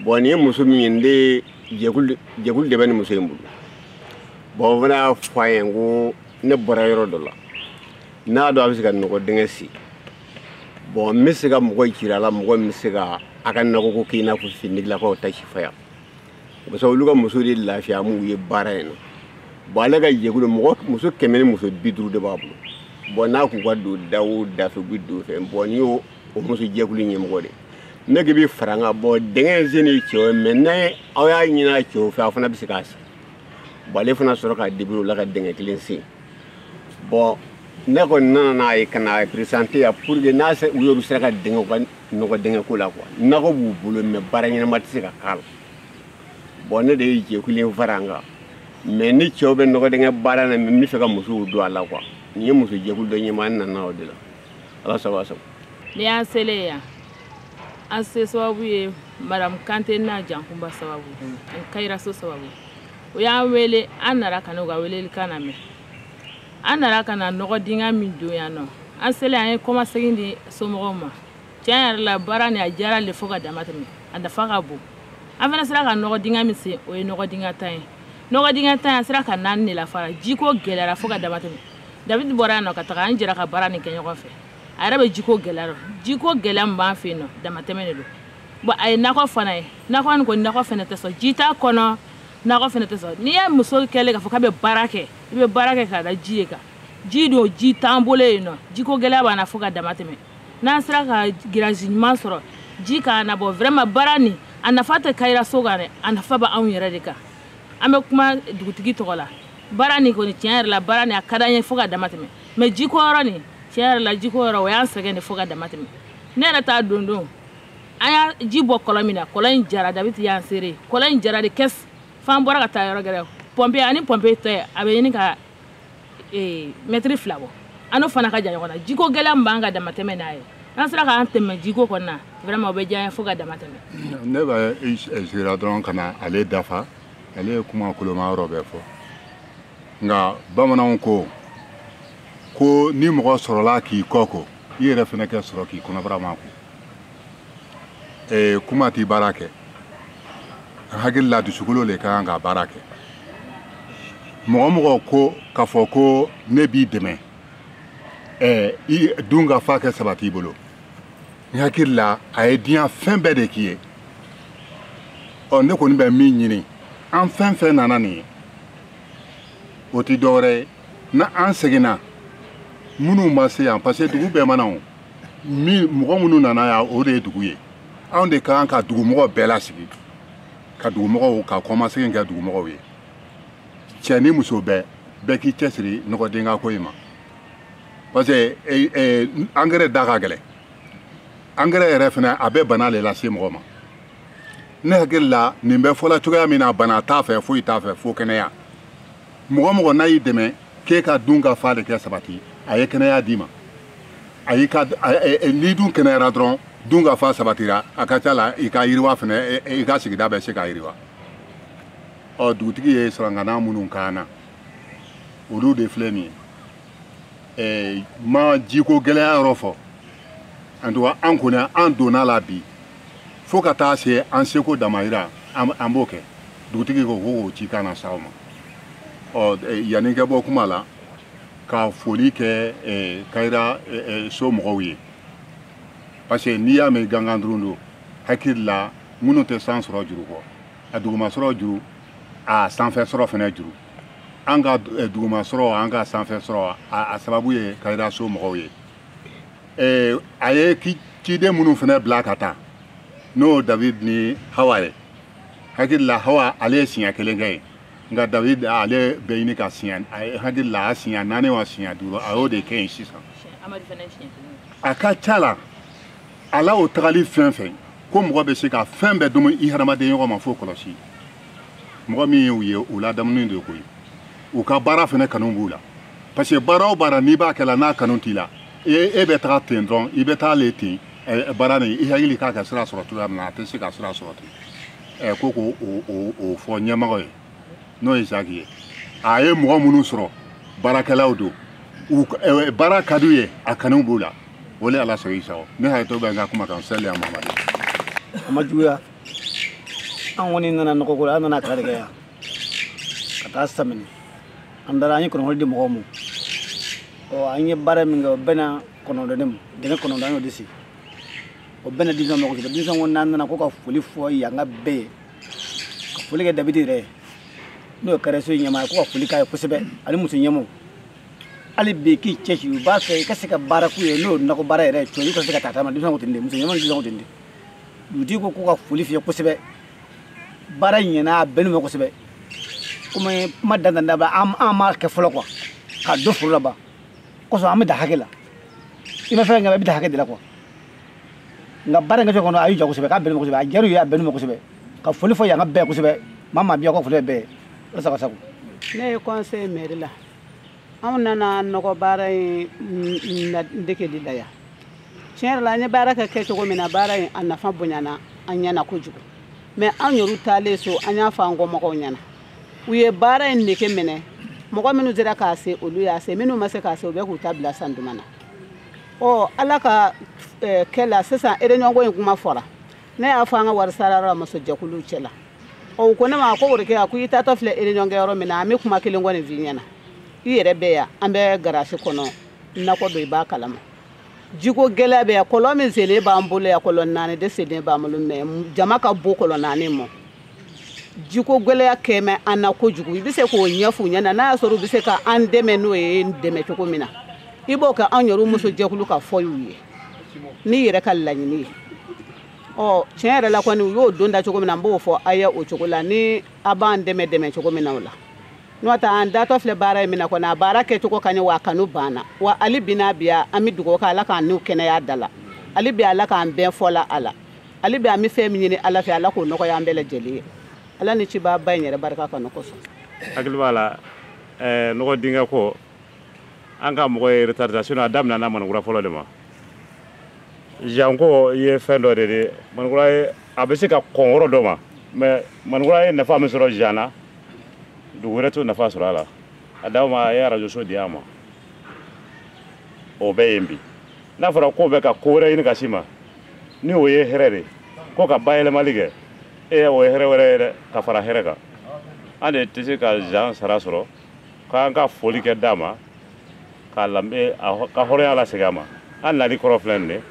bɔn nin ye muso min ye n de jɛkulu jɛkulu de bɛ nin muso in bolo bɔn o fana y'a fɔ a ye ko ne bɔra yɔrɔ dɔ la n'a dɔn a bɛ se ka nɔgɔ dingɛ sen bɔn n bɛ se ka mɔgɔ jira a la mɔgɔ min bɛ se ka a ka nɔgɔko k'i n'a fɔ finidilakaw ta sifaya parce que olu ka muso de lafiya m'u ye baara in na bɔn ale ka jɛkulu mɔgɔ muso kɛmɛ ni muso bi duuru de b'a bolo bɔn n'a k'u ka don da o da fɛ u bɛ don fɛ bɔn nin ye o muso jɛkulu ɲɛmɔgɔ de ne k'i bɛ fara n kan bɔn dingɛ in sen ye cɛw ye mais n'a aw y'a ɲini a cɛw fɛ a fana bɛ se k'a sen bɔn ale fana sɔrɔ k'a débrouiller o la ka dingɛ kelen sen bɔn ne kɔni nana n'a ye ka na présenter yan pour que n'a se u yɛrɛ sera k'u dɛmɛ u ka nɔgɔ dingɛ ko la quoi nɔgɔ b'u bolo mais baara ɲɛnama tɛ se ka k'a la bɔn ne de ye jɛkulu in fara an kan mais ni cɛw bɛ nɔgɔ dingɛ baara na mais n bɛ fɛ ka musow don a la quoi nin ye muso jɛkulu dɔ ɲɛmaa n nana o de la ala sago aw sago n'i y'an selen yan an se sababu ye madamu kante n'a jankunba sababu ani kayiraso sababu o y'an wele an nana ka n'o ka weleli kan lamɛn an nana ka na nɔgɔ dingɛ min dɔn yan nɔ an selen an ye kɔmasegin di somɔgɔw ma tiɲɛ yɛrɛ la baara nin a diyara an ye fo ka dama tɛmɛ a nafa ka bon an fana sera ka nɔgɔ dingɛ min sen o ye nɔgɔ dingɛ tan ye nɔgɔ dingɛ tan an sera ka naani de lafa a la jiko gɛlɛyara fo ka dama tɛmɛ david bɔra yan nɔ ka taga an jɛra ka baara nin kɛ ɲɔgɔn fɛ a yɛrɛ bɛ jiko gɛlɛya dɔn jiko gɛlɛya min b'an fɛ yen nɔ damatɛmɛ de don bɔn a ye nakɔ fana ye nakɔ nin kɔni nakɔ fana tɛ sɔn ji t'a kɔnɔ nakɔ fana tɛ sɔrɔ n'i ye muso kɛlɛ k'a fɔ k'a bɛ baara kɛ i bɛ baara kɛ k'a da ji de kan ji dun ji t'an bolo yen nɔ jiko gɛlɛya b'an na fo ka dama tɛmɛ n'an sera ka giriyazi ɲuman sɔrɔ ji k'an labɔ vraiment baara nin a nafa tɛ kayiraso kan dɛ a nafa bɛ anw yɛrɛ de kan an bɛ kuma dugutigi tɔgɔ la baara nin kɔni tiɲɛ yɛrɛ la baara nin a ka d'an ye fo ka dama tɛmɛ mais jiko yɔrɔ nin tiɲɛ yɛrɛ la jiko yɔrɔ o y'an sɛgɛn de fo ka dama tɛmɛ ne yɛrɛ ta don don an y'a ji bɔ kɔlɔn min na kɔlɔn in jara david y'an seere kɔlɔn in jara de kɛs f'an bɔra ka taa yɔrɔ gɛrɛ pɔnpe ani pɔnpe cɛ a bɛ ɲini ka eh, mɛtiri fila bɔ an n'o fana ka jan ɲɔgɔn na jiko gɛlɛya min b'an kan damatɛmɛ n'a ye aw sera k'an dɛmɛ jiko kɔnɔ na vraiment o bɛ diya n ye fo ka damatɛmɛ ne bɛ eh, sigira dɔrɔn ka na ale dafa ale ye kuma koloma yɔrɔ bɛɛ fɔ nka bamananw ko ko ni mɔgɔ sɔrɔla k'i kɔ ko i yɛrɛ fana ka sɔrɔ k'i kɔnɔbara ma ko ee kuma ti baara kɛ n hakili la dusukolo le ka kan ka baara kɛ mɔgɔ o mɔgɔ ko k'a fɔ ko ne b'i dɛmɛ ɛɛ i dun ka fa kɛ sabati i bolo n hakili la a ye diɲɛ fɛn bɛɛ de k'i ye ɔ ne kɔni bɛ min ɲini an fɛn fɛn nana nin ye o ti dɔwɛrɛ ye n'an seginna minnu ma se yan parce que dugu bɛɛ ma na o min mɔgɔ minnu nana yan o de ye dugu ye anw de ka kan ka dugumɔgɔ bɛɛ lasigi ka dugumɔgɔw ka kɔmasegin kɛ dugumɔgɔw ye cɛ ni muso bɛɛ bɛɛ k'i cɛsiri nɔgɔdenka ko in ma parce que e, e, angɛrɛ da ka gɛlɛn angɛrɛ yɛrɛ fana a bɛ bana de lase mɔgɔ ma ne hakili la nin bɛ fɔla cogoya min na bana t'a fɛ foyi t'a fɛ fo kɛnɛya mɔgɔ o mɔgɔ n'a y'i dɛmɛ k'e ka dun ka fa de kɛ sabati a ye kɛnɛya d'i ma a y'i ka n'i dun kɛnɛyara dɔrɔn dun ka fa sabatira a ka ca la i ka yiriwa fɛnɛ i ka sigida bɛ se ka yiriwa ɔ dugutigi ye sarangana minnu kan na olu de filɛ nin ye ma jiko gɛlɛya yɔrɔ fɔ en tout cas an kɔni an donna a la bi fo ka taa se an seko damayira an b'o kɛ dugutigi ko ko k'o cikan las'aw ma ɔ e, yanni n ka bɔ kuma la ka foli kɛ e, kayira e, so mɔgɔw ye parce que n'i y'a mɛn gangan durun don hakili la minnu tɛ san sɔrɔ juru kɔ a dugumasɔrɔ juru a sanfɛ sɔrɔ fana juru an ka dugumasɔrɔ an ka sanfɛ sɔrɔ a sababu ye kayira so mɔgɔw ye eh, a ye ciden minnu fana bila ka taa n'o david ni hawa ye hakili la hawa ale ye siɲɛ kelen kɛ yen nka david ale bɛ ɲini ka siɲɛ hakili la a siɲɛ naani wa siɲɛ duuru a y'o de kɛ yen sisan a ka ca la ala o tagali fɛn fɛn ko mɔgɔ bɛ se ka fɛn bɛɛ dogo i hadamaden ɲɔgɔn ma fo kɔlɔsi mɔgɔ min ye u ye u ladamunen de koyi u ka baara fana kanu b'u la parce que baara o baara n'i b'a kɛla n'a kanu t'i la e, e bɛ taga ten dɔrɔn i bɛ taa le ten baara nin i hakili k'a ka sira sɔrɔ cogoya min na a tɛ se ka sira sɔrɔ ten ko k'o o fɔ ɲɛmɔgɔ ye n'o ye zaki ye a ye mɔgɔ minnu sɔrɔ baarakɛlaw don baara ka d'u ye a kanu b'u la o de ala sɔrɔ i sago ne hakili to bɛ n ka kuma kan sɛli a mamadu a ma juguya an kɔni nana nɔgɔko la an nana kari kɛ yan ka taa samini an taara an ye kɔnɔkɔli di mɔgɔw ma ɔ an ye baara min kɛ o bɛɛ na kɔnɔdɔn ne ma dɛmɛ kɔnɔdɔn an y'o de sigi o bɛɛ na denmisɛn mɔgɔ kelen denmisɛn ko n'an nana ko ka foli fɔ yankaw bɛɛ ye ka foli kɛ dabidi yɛrɛ ye n'o ye kɛrɛso ɲɛmaa ye ko ka foli k'a ye kosɛbɛ ani muso ɲɛmɔw hali bi k'i cɛsiri u b'a fɛ i ka se ka baara k'u ye n'o nakɔ baara yɛrɛ ye cɔyi i ka se ka taa taama denmisɛn ko ten de muso ɲɛmɔw denmisɛn ko ten de dugutigi ko ko ka foli f'i ye kosɛbɛ baara ɲɛna a bɛnn'u ma kosɛbɛ komi kuma dantanda bɛ an an m'a kɛ fɔlɔ quoi ka dɔ foro la ban kosɔn an bɛ da hakɛ la i ma fɛn kɛ i bɛ da hakɛ de la quoi nka baara in kɛcogo kɔni a y'u ja kosɛbɛ k'a bɛnn'u ma kosɛbɛ a diyar'u ye a bɛnn'u ma kosɛbɛ ka foli fɔ yankaw bɛɛ kosɛbɛ maa o maa bɛ yan ka foli bɛɛ ye ala sago aw sago ne ye kɔnse mɛri la anw nana nɔgɔ baara in degeli la yan tiɲɛ yɛrɛ la an ye baara kɛ kɛ cogo min na baara in a nafa bonyana an ɲɛna kojugu mais an yɛrɛw taalen so an y'a fɔ an kɔmɔgɔw ɲɛna u ye baara in nege minɛ mɔgɔ minnu sera k'a sen olu y'a sen minnu ma se k'a sen u bɛ k'u ta bila san duman na ɔ ala ka kɛ la sisan réunion ko in kuma fɔra ne y'a fɔ an ka wari sarayɔrɔ la muso jɛkuluw cɛ la u ko ne ma ko worokiya ko i taatɔ filɛ réunion kɛ yɔrɔ min na an bɛ kuma kelen kɔni f'i ɲɛna i yɛrɛ bɛ yan an bɛ garasi kɔnɔ nakɔ don i b'a kalama jiko gɛlɛya bɛ yan kɔlɔn min senlen b'an bolo yan kɔlɔn naani de senlen b'an bolo mais jama ka bon kɔlɔn naani mɔ jiko gɛlɛya kɛmɛ an na kojugu i bɛ se k'o ɲɛf'u ɲɛna n'a y'a sɔrɔ u bɛ se ka an dɛmɛ n'o ye dɛmɛ cogo min na i b'o kɛ an yɛrɛ muso jɛkulu ka fɔ y'u ye n'i yɛrɛ ka laɲini ye ɔ tiɲɛ yɛrɛ la kɔni u y'o don da cogo min na n b'o fɔ aw ye o cogo la ni a b'an dɛmɛ dɛmɛ cogo min na o la n'o tɛ an datɔ filɛ baara ye min na kɔni a baara kɛcogo ka ɲi wa a kanu b'an na wa hali bi n'a biya an bɛ dugawu kɛ ala k'an ni kɛnɛya da la hali bi ala k'an bɛn fɔ la a la hali bi an bɛ fɛn min ɲini ala fɛ ala k'o nɔgɔya an bɛɛ lajɛlen ye ala ni cibaa ba in yɛrɛ barika kanu kosɔn hakili b'a la eh, nɔgɔ dingɛ ko an ka mɔgɔ ye retard ta sinon a daminɛ na manikura fɔlɔ de ma jan ko ye fɛn dɔ de di manikura ye a bɛ se ka kɔn yɔrɔ dɔ ma mais manikura ye nafa min sɔrɔ jan na dugu wɛrɛ t'o nafa sɔrɔ a la a d'aw ma a ye arajoso di an ma o bɛ yen bi n'a fɔra k'o bɛ ka ko wɛrɛ ɲini ka s'i ma ni o ye hɛrɛ de ko ka bayɛlɛmali kɛ e o ye hɛrɛ wɛrɛ ye dɛ ka fara hɛrɛ kan an de tɛ se ka jan sara sɔrɔ k'an ka foli kɛ dama k'a lambe ka hɔrɔnya lasegin a ma an nali kɔrɔ filɛ nin de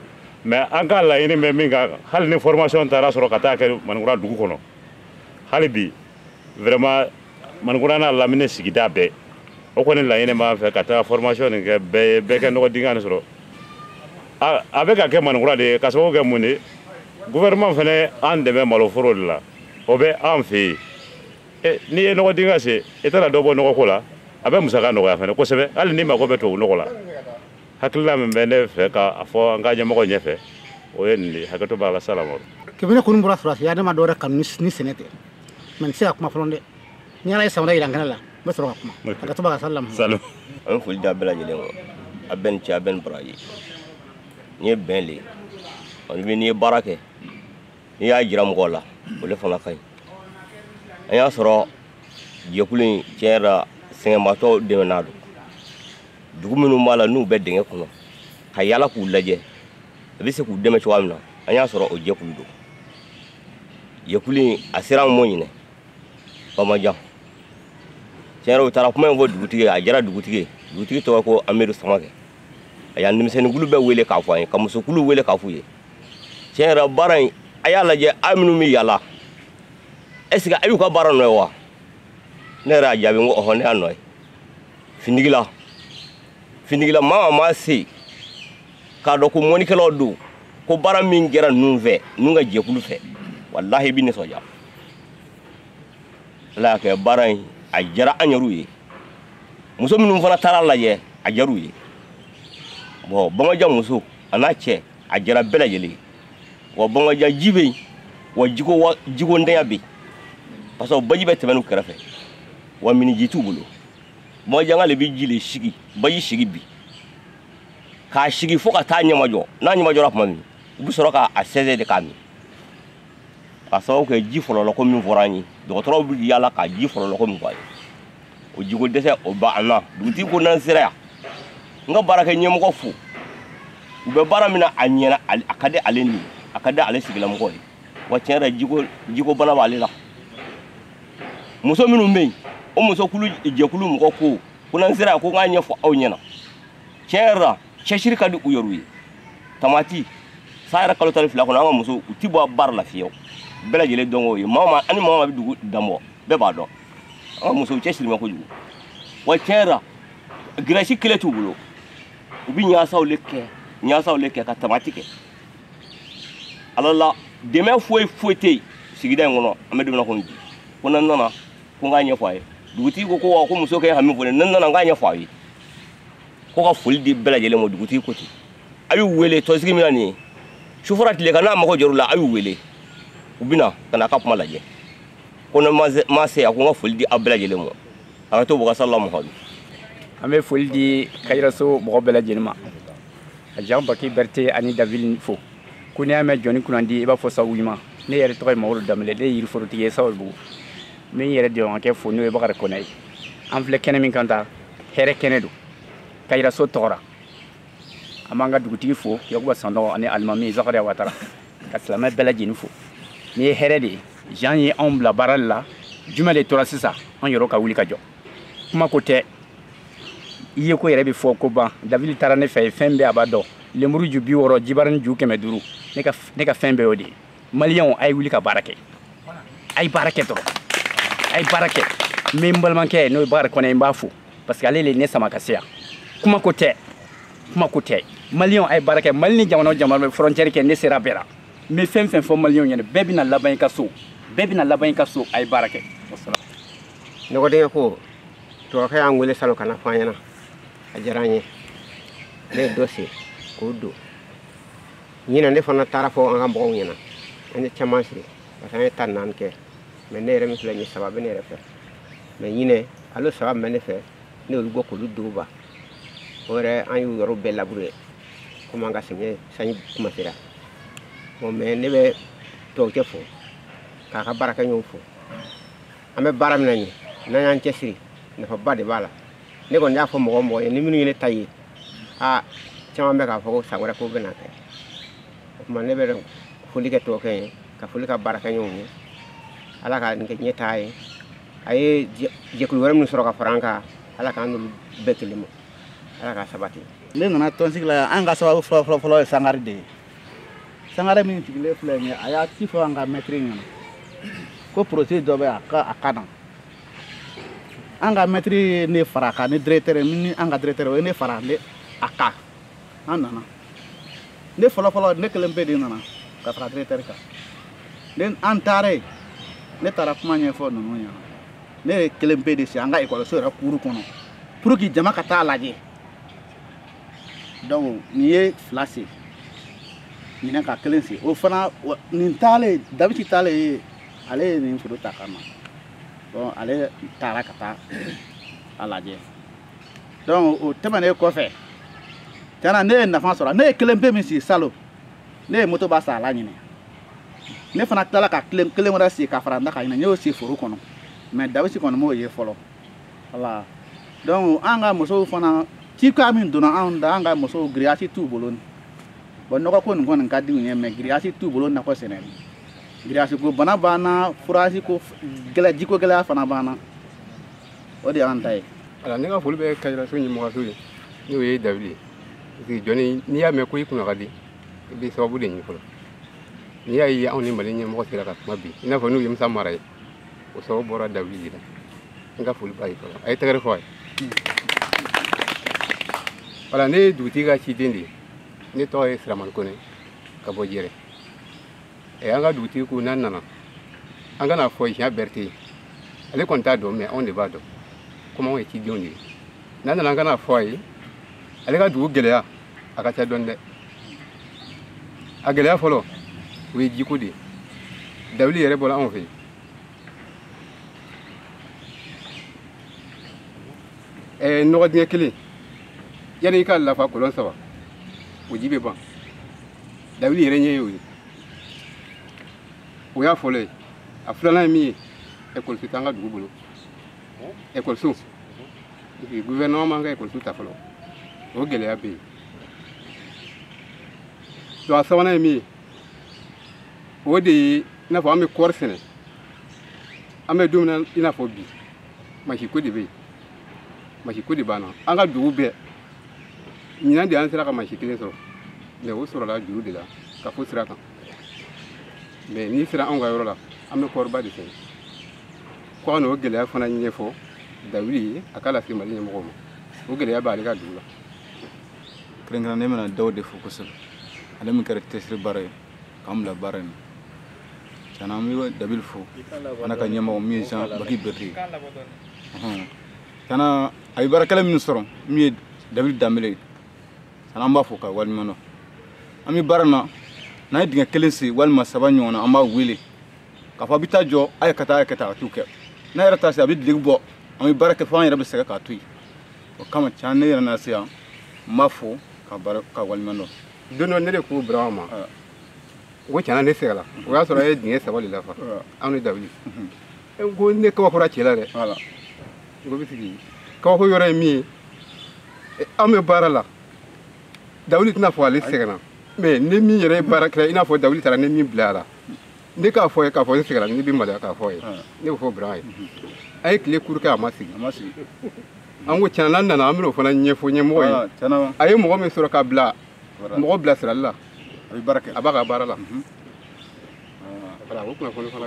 mais an ka laɲini bɛ min kan hali ni formation taara sɔrɔ ka taa kɛ manikura dugu kɔnɔ hali bi vraiment manikura n'a lamini sigida bɛɛ o kɔni laɲini b'an fɛ ka taa formation nin kɛ bɛɛ ye bɛɛ ka nɔgɔ dingɛ nin sɔrɔ a bɛ ka kɛ manikura de ye k'a sababu kɛ mun de gouvernement fana an dɛmɛ maloforo de la o bɛ an fɛ yen eh, n'i ye nɔgɔ dingɛ sen i tɛna dɔ bɔ nɔgɔko la a bɛ musaka nɔgɔya fana kosɛbɛ hali n'i mago bɛ tubabu nɔgɔ la hakilila min bɛ ne fɛ k'a fɔ an ka ɲɛmɔgɔ ɲɛfɛ o ye nin de hakɛto b'a la salamalekum ne kɔni bɔra sɔrɔdasiya ne ma dɔwɛrɛ kanu ni sɛnɛ tɛ mɛ n tɛ se ka kuma fɔlɔ dɛ ni ala ye san wɛrɛ jira n kɛnɛ la n bɛ sɔrɔ ka kuma hakɛto b'a kan salamu an bɛ foli di a bɛɛ lajɛlen ko a bɛɛ ni ce a bɛɛ ni baraji n'i ye bɛn le n'i ye baara kɛ n'i y'a jira mɔgɔw la o le fana ka ɲi an y'a sɔrɔ jɛkulu in tiɲɛ yɛrɛ la sɛgɛnbaatɔ dɛmɛna don dugu minnu b'a la n'u bɛ dingɛ kɔnɔ ka yala k'u lajɛ a bɛ se k'u dɛmɛ cogoya min na an y'a sɔrɔ o jɛkulu don jɛkulu in a sera an ma ɲinan bamajan tiɲɛ yɛrɛ u taara kuma in fɔ dugutigi ye a diyara dugutigi ye dugutigi tɔgɔ ko amidu samakɛ a y'a denmisɛnninkulu bɛɛ wele k'a fɔ an ye ka musokulu wele k'a f'u ye tiɲɛ yɛrɛ baara in a y'a lajɛ aw minnu bɛ yala est ce que a y'u ka baara nɔ ye wa ne yɛrɛ y'a jaabi n ko ɔhɔ ne y'a nɔ ye findigila findigila maa o maa se k'a dɔn ko mɔnikɛlaw don ko baara min kɛra ninnu fɛ ninnu ka jɛkulu fɛ walahi i bɛ nisɔndiya ala y'a kɛ baara in a diyara an yɛrɛw ye muso minnu fana taar'a lajɛ a diyar'u ye bɔn bamaja muso a n'a cɛ a diyara bɛɛ lajɛlen wa bangaja ji bɛ yen wa jiko jiko ntanya bɛ yen parce que baji bɛ tɛmɛn u kɛrɛfɛ wa miniji t'u bolo bangajanka de bɛ ji de sigi baji sigi bi k'a sigi fo ka taa ɲɛmajɔ n'a ɲɛmajɔra tuma min u bɛ sɔrɔ k'a sɛnsɛn de k'a min k'a sababu kɛ ji fɔlɔlɔ ko min fɔra an ye dɔgɔtɔrɔw bɛ yaala ka ji fɔlɔlɔ ko min fɔ an ye o jiko dɛsɛ o b'an na dugutigi ko n'an sera yan n ka baarakɛ ɲɛmɔgɔ fo u bɛ baara min na a ɲɛna a ka di ale ni a ka di ale sigilamɔgɔ ye wa tiɲɛ yɛrɛ jiko jiko bana b'ale la muso minnu bɛ yen o muso kulu jɛkulu mɔgɔ ko ko n'an sera yan ko n k'a ɲɛfɔ aw ɲɛna tiɲɛ yɛrɛ la cɛsiri ka di u yɛrɛw ye tamati san yɛrɛ kalo tan ni fila kɔnɔ an ka musow tɛ bɔ baara la fiyewu bɛɛ lajɛlen dɔn k'o ye maa o maa ani maa o maa bɛ dugu dan bɔ bɛɛ b'a dɔn an ka musow cɛsiri ma kojugu wa tiɲɛ yɛrɛ giriyasi kelen t'u bolo u bɛ ɲaasaw le kɛ ɲaasaw le kɛ ka tamati kɛ ala la dɛmɛ foyi foyi tɛ yen sigida in kɔnɔ an bɛ don min na komi bi ko n'an nana ko n k'a ɲɛfɔ a ye dugutigi ko ko wa ko muso k'a hami fɔ ne n'an nana n k'a ɲɛfɔ a ye ko ka foli di bɛɛ lajɛlen ma dugutigi ko ten a y'u wele tɔnsigi min na nin ye su fara tile kan n'a mago jɔr'u la a y'u wele u bɛ na ka n'a ka kuma lajɛ ko ne ma se a ko n ka foli di aw bɛɛ lajɛlen ma a ka to bɔgasa la mɔgɔ an bɛ foli di kayiraso mɔgɔ bɛɛ lajɛlen ma ka jean baki berete ani davidi fo ko n'i y'a mɛn jɔni kunnandi i b'a fɔ sabu ɲuman ne yɛrɛ tɔgɔ ye mamadu danbele ne ye yiriforotigi ye sababubugu n bɛ n yɛrɛ dɔgɔkɛ fo n'o ye bakari kɔnɛ ye an filɛ kɛnɛ min kan tan hɛrɛ kɛnɛ don kayiraso tɔgɔ ra an b'an ka dugutigi fo yakuba sanɔgɔ ani alimami zakariya watara ka silamɛ bɛɛ lajɛlen fo n'i ye hɛrɛ de ye jean ye anw bila baara de la jumɛn de tora sisan an yɛrɛ ka wuli ka jɔ kuma ko tɛ i yeko yɛrɛ bɛ fɔko ban davidi taara ne fɛ yen fɛn bɛɛ a b'a dɔn lemuru ju bi wɔɔrɔ jibarini ju kɛmɛ duuru ne ka fɛn bɛɛ y'o de ye maliyɛnw a ye wuli ka baara kɛ a ye baara kɛ dɔrɔn a ye baara kɛ mais n balimakɛ n'o ye bakari kɔnɛ n b'a fo parce que ale le ye ne sama ka se yan kuma ko tɛ kuma ko tɛ maliyɛnw a ye baara kɛ mali ni jamana o jamana bɛ frontière kɛ ne sera bɛɛ la n bɛ fɛn fɛn fɔ maliyɛnw ɲɛna bɛɛ bɛna laban i ka so bɛɛ bɛna laban i ka so a ye baara kɛ nɔgɔdingɛ ko dɔgɔkɛ y'an wele salon ka n'a fɔ an ɲɛna a diyara an ye ne ye dɔ sigi k'o don ɲinan ne fana taara fɔ an ka mɔgɔw ɲɛna an ye caman sigi parce que an ye tan ni naani kɛ mɛ ne yɛrɛ min filɛ nin saba bɛ ne yɛrɛ fɛ mɛ ɲinɛ ale saba min bɛ ne fɛ ne y'olu bɔ k'olu don ba o yɛrɛ an y'u yɔrɔw bɛɛ labure komi an ka sɛgɛn sanji kuma sera bon mɛ ne bɛ dɔgɔkɛ fo k'a ka baarakɛɲɔgɔnw fo an bɛ baara min na ɲɛ n'an y'an cɛsiri nafaba de b'a la ne kɔni y'a fɔ mɔgɔ o mɔgɔ ye ni minnu ye ne ta ye aa caman bɛ k'a fɔ ko san wɛrɛ k'u bɛn'a kɛ o tuma ne bɛ foli kɛ dɔgɔkɛ ye ka foli k'a baarakɛɲɔgɔnw ye ala k'a kɛ ɲɛtaa ye a ye jɛkulu wɛrɛ minnu sɔrɔ ka fara an kan ala k'an n'olu bɛn kelen ma ala k'a sabati ne nana tɔnsigi la yan an ka sababu fɔlɔ fɔlɔ fɔlɔ ye sangare de ye sangare min sigilen filɛ nin ye a y'a ci fɔ an ka mɛtiri ɲɛna ko projet dɔ bɛ a ka a ka na an ka mɛtiri ye ne fara kan ne directeur ni an ka directeur o ye ne fara ne a kan an nana ne fɔlɔfɔlɔ ne kelen pe de nana ka fara directeur kan ne an taara yen ne taara kuma ɲɛfɔ ninnu ɲɛna ne ye kelen pe de sigi an ka ekɔliso yɛrɛ kuuru kɔnɔ pour que jama ka taa lajɛ donc ne ye fila sigi ɲinɛ ka kelen sigi o fana nin taalen davidi taalen ye ale ye nin foto ta ka na donc ale taara ka taa a lajɛ donc o tɛmɛnen kɔfɛ tiɲɛna ne ye nafa sɔrɔ ne ye kelen pe min sigi salon ne ye motoba san a la ɲinɛ ne fana tilala ka kelen kelen wɛrɛ sigi ka fara n ta kan ɲinɛ n y'o sigi foro kɔnɔ mais davidi kɔni m'o ye fɔlɔ wala donc an ka musow fana cika min donna anw da an ka musow giriyasi t'u bolo bɔn nɔgɔko nin kɔni ka di u ye mɛ giriyasi t'u bolo nakɔ sɛnɛli giriyaziko bana b'an na forazi ko gɛlɛ jiko gɛlɛya fana b'an na o de y'an ta ye ala ne ka foli bɛ kajiraso ɲɛmɔgɔso ye n'o ye dawidi ye parce que jɔn n'i y'a mɛn ko i kunna ka di i bɛ sababu de ɲini fɔlɔ n'i y'a ye anw ni mali ɲɛmɔgɔ sera ka kuma bi i n'a fɔ n'o ye musa mara ye o sababu bɔra dawidi de la n ka foli b'a ye fɔlɔ a ye tɛgɛrɛ fɔ a ye voilà ne ye dugutigi ka ciden de ye ne tɔgɔ ye siramani kone ka bɔ jɛrɛ ɛ an ka dugutigi ko n'an nana an ka n'a fɔ monsieur berete ye ale kɔni t'a dɔn mɛ anw de b'a dɔn komi anw ye cidenw de ye n'an nana an ka n'a fɔ a ye ale ka dugu gɛlɛya a ka ca dɔɔni dɛ a gɛlɛya fɔlɔ o ye jiko de ye dawidi yɛrɛ bɔra anw fɛ yen ɛɛ nɔgɔ dingɛ kelen yanni i k'a lafa kolon saba o ji bɛ ban dawidi yɛrɛ ɲɛ y'o ye o y'a fɔlɔ ye a filanan ye min ye ekɔliso t'an ka dugu bolo ekɔliso guvɛrɛnɛman man ka ekɔliso ta fɔlɔ o gɛlɛya bɛ yen donc a sabanan ye min ye o de ye i n'a fɔ an bɛ kɔɔri sɛnɛ an bɛ don min na i n'a fɔ bi mansinko de bɛ yen mansinko de b'an na an ka dugu bɛɛ ɲinan de an sera ka mansin kelen sɔrɔ mɛ o sɔrɔla juru de la kafo sira kan mɛ n'i sera anw ka yɔrɔ la an bɛ kɔɔriba de sɛnɛ ko an n'o gɛlɛya fana ɲɛfɔ dawidi ye a k'a lase mali ɲɛmɔgɔw ma o gɛlɛya b'ale ka dugu la kɛrɛnkɛrɛnnen n bɛna dawidi fo kosɛbɛ ale min kɛra cɛsiri baara ye k'an bila baara in tiɲɛ na an bɛ dawidi fo fana a ka ɲɛmɔgɔ min ye jean baki berete tiɲɛ na a ye baarakɛla minnu sɔrɔ min ye dawidi danbele ye tiɲɛ na an b'a fo ka waleɲuman dɔn an bɛ baara na n'an ye dingɛ kelen sen walima saba ɲɔgɔn na an b'a wele k'a fɔ a bɛ taa jɔ a ye ka taa a ye ka taa a t'o kɛ n'a yɛrɛ taa se a bɛ dereke bɔ an bɛ baara kɛ fo an yɛrɛ bɛ sɛgɛn k'a to yen o kama tiɲɛ na ne yɛrɛ na se yan n b'a fo ka waleɲuman dɔn don dɔ ne de ko bira ma ko tiɲɛ na ne sɛgɛnna o y'a sɔrɔ an ye dingɛ saba de lafa anw ni dawidi n ko ne kabakoyara cɛ la dɛ n ko bɛ sigi kabako yɔrɔ ye min ye anw bɛ baara la dawidi tɛna fɔ ale sɛgɛnna mɛ ne min yɛrɛ ye baarakɛla i n'a fɔ dawidi taara ne min bila a la ne k'a fɔ a ye k'a fɔ ne sɛgɛnna ne bɛ maloya k'a fɔ a ye ne b'a fɔ bira ye a ye tile kuru kɛ a ma sigi an ko tiɲɛ na n'an nana an bɛn'o fana ɲɛfɔ ɲɛmɔgɔ ye ah, a ye mɔgɔ min sɔrɔ ka bila mɔgɔ bilasirali la a b'a ka baara la mhm. ah. o kunnafoni fana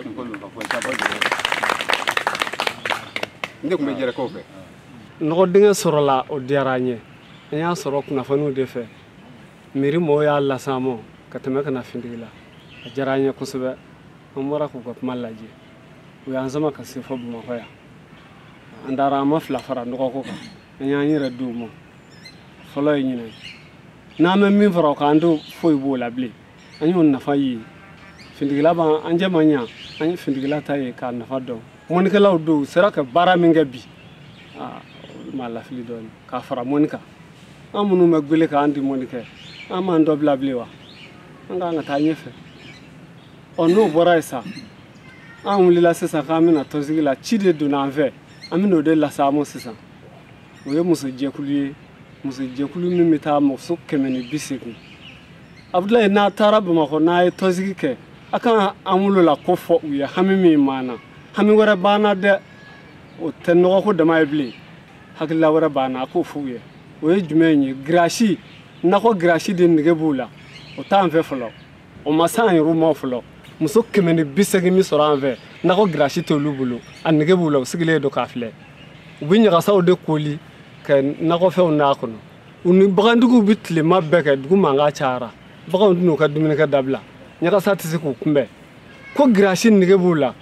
n de tun bɛ jɛrɛkaw fɛ nɔgɔ dingɛ sɔrɔla o diyara an ye an y'a sɔrɔ kunnafoniw de fɛ miiri mɔgɔw y'a las'an ma ka tɛmɛ ka na fintigila a diyara an ye kosɛbɛ an bɔra k'u ka kuma lajɛ u y'an sama ka se fo bamakɔ yan an taara an maa fila fara nɔgɔko kan an y'an yɛrɛ di u ma fɔlɔ ye ɲinan n'an bɛ min fara o kan an tɛ foyi b'o la bilen an y'o nafa ye fintigila b'an an jɛ man ɲa an ye fintigila ta ye k'a nafa dɔn mɔnikɛlaw don u sera ka baara min kɛ bi malo fili dɔɔni k'a fara mɔni kan an minnu bɛ gwele kan an tɛ mɔni kɛ an m'an dɔ bila bilen wa an k'an ka taa ɲɛfɛ ɔ n'o bɔra yen sa an wulila sisan k'an bɛ na tɔnsigi la ci de donna an fɛ an bɛna o de las'a ma sisan o ye musojɛkulu ye musojɛkulu min bɛ taa muso kɛmɛ ni bi seegin abudulayi n'a taara bamakɔ n'a ye tɔnsigi kɛ a kan an wolo la ko fɔ u ye hami min b'an na hami wɛrɛ b'an na dɛ o tɛ nɔgɔko dama ye bilen hakilila wɛrɛ b'an na a k'o fɔ u ye o ye jumɛn ye girasi nakɔ girasi de nege b'u la o t'an fɛ fɔlɔ o ma se an yɛrɛw ma fɔlɔ muso kɛmɛ ni bi seegin min sɔrɔ an fɛ nakɔ girasi t'olu bolo a nege b'u la u sigilen don k'a filɛ u bɛ ɲagasaw de koori ka nakɔfɛnw n'a kɔnɔ u ni bagantigiw bɛ tilema bɛɛ kɛ dugu mankan cayara baganw tɛn'u ka dumunikɛ dabila ɲagasa tɛ se k'u kunbɛn ko girasi nege b'u la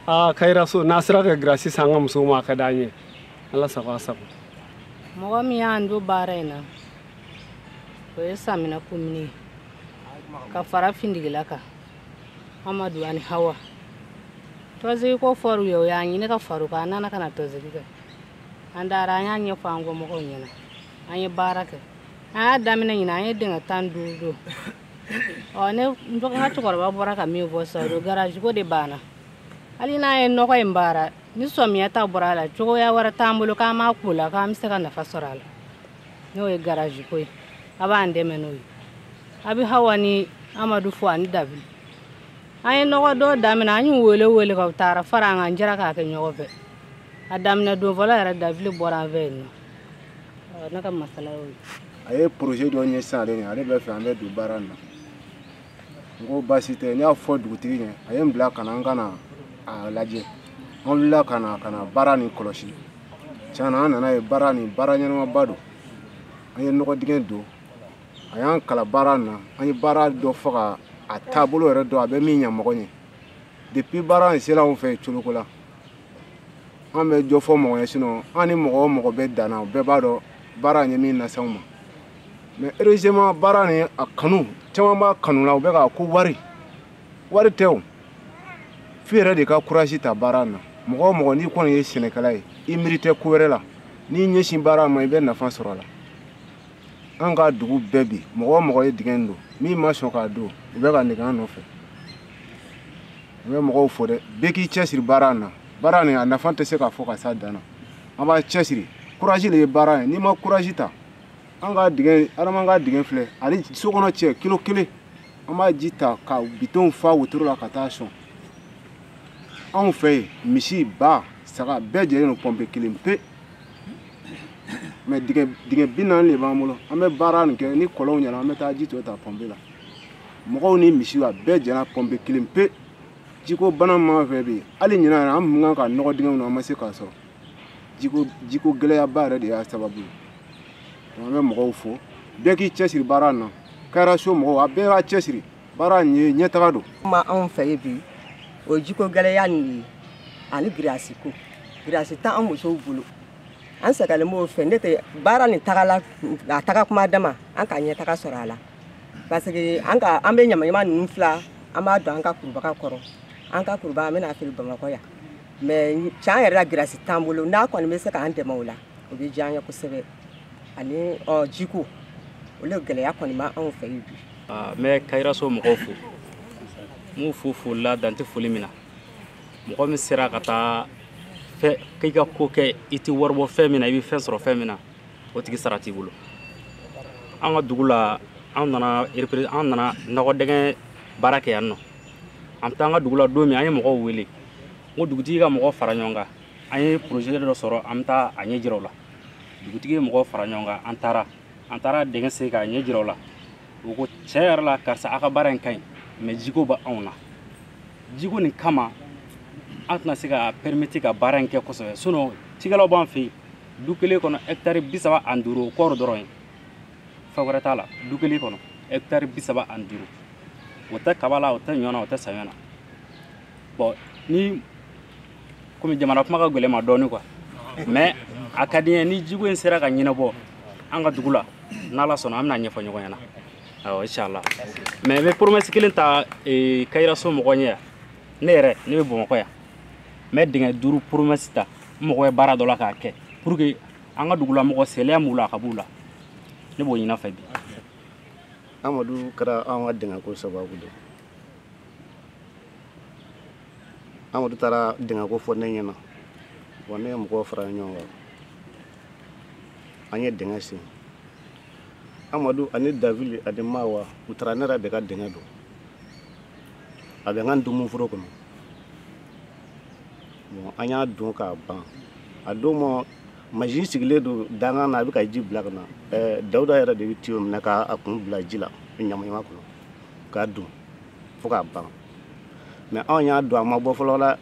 aa kayiraso n'a sera ka girasi san an ka musow ma a ka d'an ye ala sago a sago mɔgɔ min y'an don baara in na o ye samina kumuni ye ka fara findigila kan amadu ani hawa tɔnsigi ko fɔr'u ye u y'a ɲini ka far'o kan a nana ka na tɔnsigi kɛ an taara an y'a ɲɛfɔ an kɔmɔgɔw ɲɛna an ye baara kɛ an y'a daminɛ ɲinan an ye dingɛ tan ni duuru don ɔ ne n ka cɛkɔrɔba bɔra ka min fɔ sisan o garaji ko de b'an na hali n'a ye nɔgɔ in baara ni samiya ta bɔra a la cogoya wɛrɛ t'an bolo k'an b'a ko la k'an bɛ se ka nafa sɔrɔ a la n'o ye garaji ko ye a b'an dɛmɛ n'o ye a bɛ hawa ni amadu fo ani dabili an ye nɔgɔ dɔ daminɛ an y'u wele wele ka taara fara an kan jɛra k'a kɛ ɲɔgɔn fɛ a daminɛ don fɔlɔ yɛrɛ dabili bɔra an fɛ yen nɔ ne ka masala y'o ye a ye projet dɔ ɲɛ sisan ale ɲɛ ale b'a fɛ an bɛ don baara in na n ko baasi tɛ n y'a fɔ dugutigi ɲɛ a ye n bila ka na n ka na a lajɛ an wulila ka na ka na baara nin kɔlɔsi tiɲɛna an nan'a ye baara nin baara ɲɛnamaba don an ye nɔgɔ dingɛ don a y'an kalan baara na an ye baara dɔn fɔ ka a taabolo yɛrɛ dɔn a bɛ min ɲa mɔgɔ ɲɛ depuis baara in sera anw fɛ coloko la an bɛ jɔ fɔ mɔgɔ ye sinɔn an ni mɔgɔ o mɔgɔ bɛ dan na o bɛɛ b'a dɔn baara in ye min lase anw ma mɛ heureusement baara nin a kanu caman b'a kanu la u bɛ k'a ko wari wari tɛ o f'i yɛrɛ de ka kurazi ta baara na mɔgɔ o mɔgɔ n'i kɔni ye sɛnɛkɛla ye i miiri tɛ ko wɛrɛ la n'i ɲɛsin baara ma i bɛ nafa sɔrɔ a la an ka dugu bɛɛ bi mɔgɔ o mɔgɔ ye dingɛ in don min ma sɔn k'a don u bɛ ka nege an nɔfɛ n bɛ mɔgɔw fo dɛ bɛɛ k'i cɛsiri baara na baara nin a nafa tɛ se ka fɔ ka s'a dan na an b'an cɛsiri kurazi de ye baara ye n'i ma kurazi ta an ka dingɛ adama ka dingɛ filɛ ani so kɔnɔ cɛ kilo kelen an b'a ji ta ka bidɔnw fa wotoro la ka taa sɔn anw fɛ yen misi ba saga bɛɛ jɛlen don pɔnpe kelen pe mɛ dingɛ dingɛ bi naani de b'an bolo an bɛ baara nin kɛ ni kɔlɔnw ɲɛna an bɛ taa ji tɔ ta pɔnpe la mɔgɔw ni misiw a bɛɛ jɛna pɔnpe kelen pe jikoba le b'an fɛ bi hali ɲinan yɛrɛ an kun kan ka nɔgɔ dingɛw na an ma se k'a sɔrɔ jiko jiko gɛlɛyaba yɛrɛ de y'a sababu ye an bɛ mɔgɔw fo bɛɛ k'i cɛsiri baara na kayiraso mɔgɔw a bɛɛ b'a cɛsiri baara nin ye ɲɛtaga don mɛ anw fɛ yen bi o jiko gɛlɛya nin de ye ani girasi ko girasi tɛ an musow bolo an sɛgɛlen b'o fɛ n'o tɛ baara nin tagala a taga kuma dama an ka ɲɛtaga sɔrɔ a la parce que an ka an bɛ ɲamaɲama ninnu fila an b'a don an ka kurubaga kɔrɔ an ka kurubaga an bɛ n'a feere bamakɔ yan mɛ tiɲɛ yɛrɛ la girasi t'an bolo n'a kɔni bɛ se k'an dɛmɛ o la o bɛ diya an ye kosɛbɛ ani ɔ jiko o le gɛlɛya kɔni bɛ anw fɛ yen bi. Ah, n bɛ kayiraso mɔgɔw fo n b'u fo foli la dan tɛ foli min na mɔgɔ min sera ka taa fɛ k'i ka ko kɛ i tɛ wari bɔ fɛn min na i bɛ fɛn sɔrɔ fɛn min na o tigi sara t'i bolo an ka dugu la an nana an nana nɔgɔ dingɛ baara kɛ yan nɔ an bɛ taa an ka dugu la don min an ye mɔgɔw wele n ko dugutigi ka mɔgɔ fara ɲɔgɔn kan an ye projet dɔ sɔrɔ an bɛ taa a ɲɛ jira u la dugutigi ye mɔgɔw fara ɲɔgɔn kan an taara an taara dingɛ sen k'a ɲɛ jira u la u ko tiɲɛ yɛrɛ la karisa aw ka baara in ka ɲi mɛ jiko bɛ anw na jiko nin kama an tɛna se ka pɛrimeti ka baara in kɛ kosɛbɛ sinɔn cikɛlaw b'an fɛ yen du kelen kɔnɔ hɛkitari bi saba ani duuru o kɔɔri dɔrɔn ye fɛn wɛrɛ t'a la du kelen kɔnɔ hɛkitari bi saba ani duuru o tɛ kaba la o tɛ ɲɔ na o tɛ saɲɔ na bɔn ni komi jama na kuma ka gɛlɛn n ma dɔɔni quoi mais a ka di n ye ni jiko in sera ka ɲɛnabɔ an ka dugu la n'ala sɔnna an bɛn'a ɲɛfɔ ɲɔgɔn ɲɛna awɔ inchallah mais n bɛ promesse kelen ta eh, kayiraso mɔgɔ ɲɛ yan ne yɛrɛ ne bɛ bamakɔ yan n bɛ dingɛ duuru promesse ta n mɔgɔ ye baara dɔ la k'a kɛ pour que an ka dugula mɔgɔ salaya m'u la a ka b'u la ne b'o ɲin'a fɛ bi amadu kɛra an ka dingɛko sababu de ye amadu taara dingɛko fɔ ne ɲɛna wa ne ye mɔgɔw fara ɲɔgɔn kan an ye dingɛ sen amadu ani davili ani mawa u taara ne yɛrɛ de ka dingɛ don a bɛ n ka ntomoforo kɔnɔ bon an y'a don k'a ban a don ma masin sigilen don dankan na a bɛ ka ji bila ka na ɛɛ dawuda yɛrɛ de bɛ tiyo minɛ k'a kun bila ji la ɲamaɲama kɔnɔ k'a don fo k'a ban mais anw y'a don a ma bɔ fɔlɔ la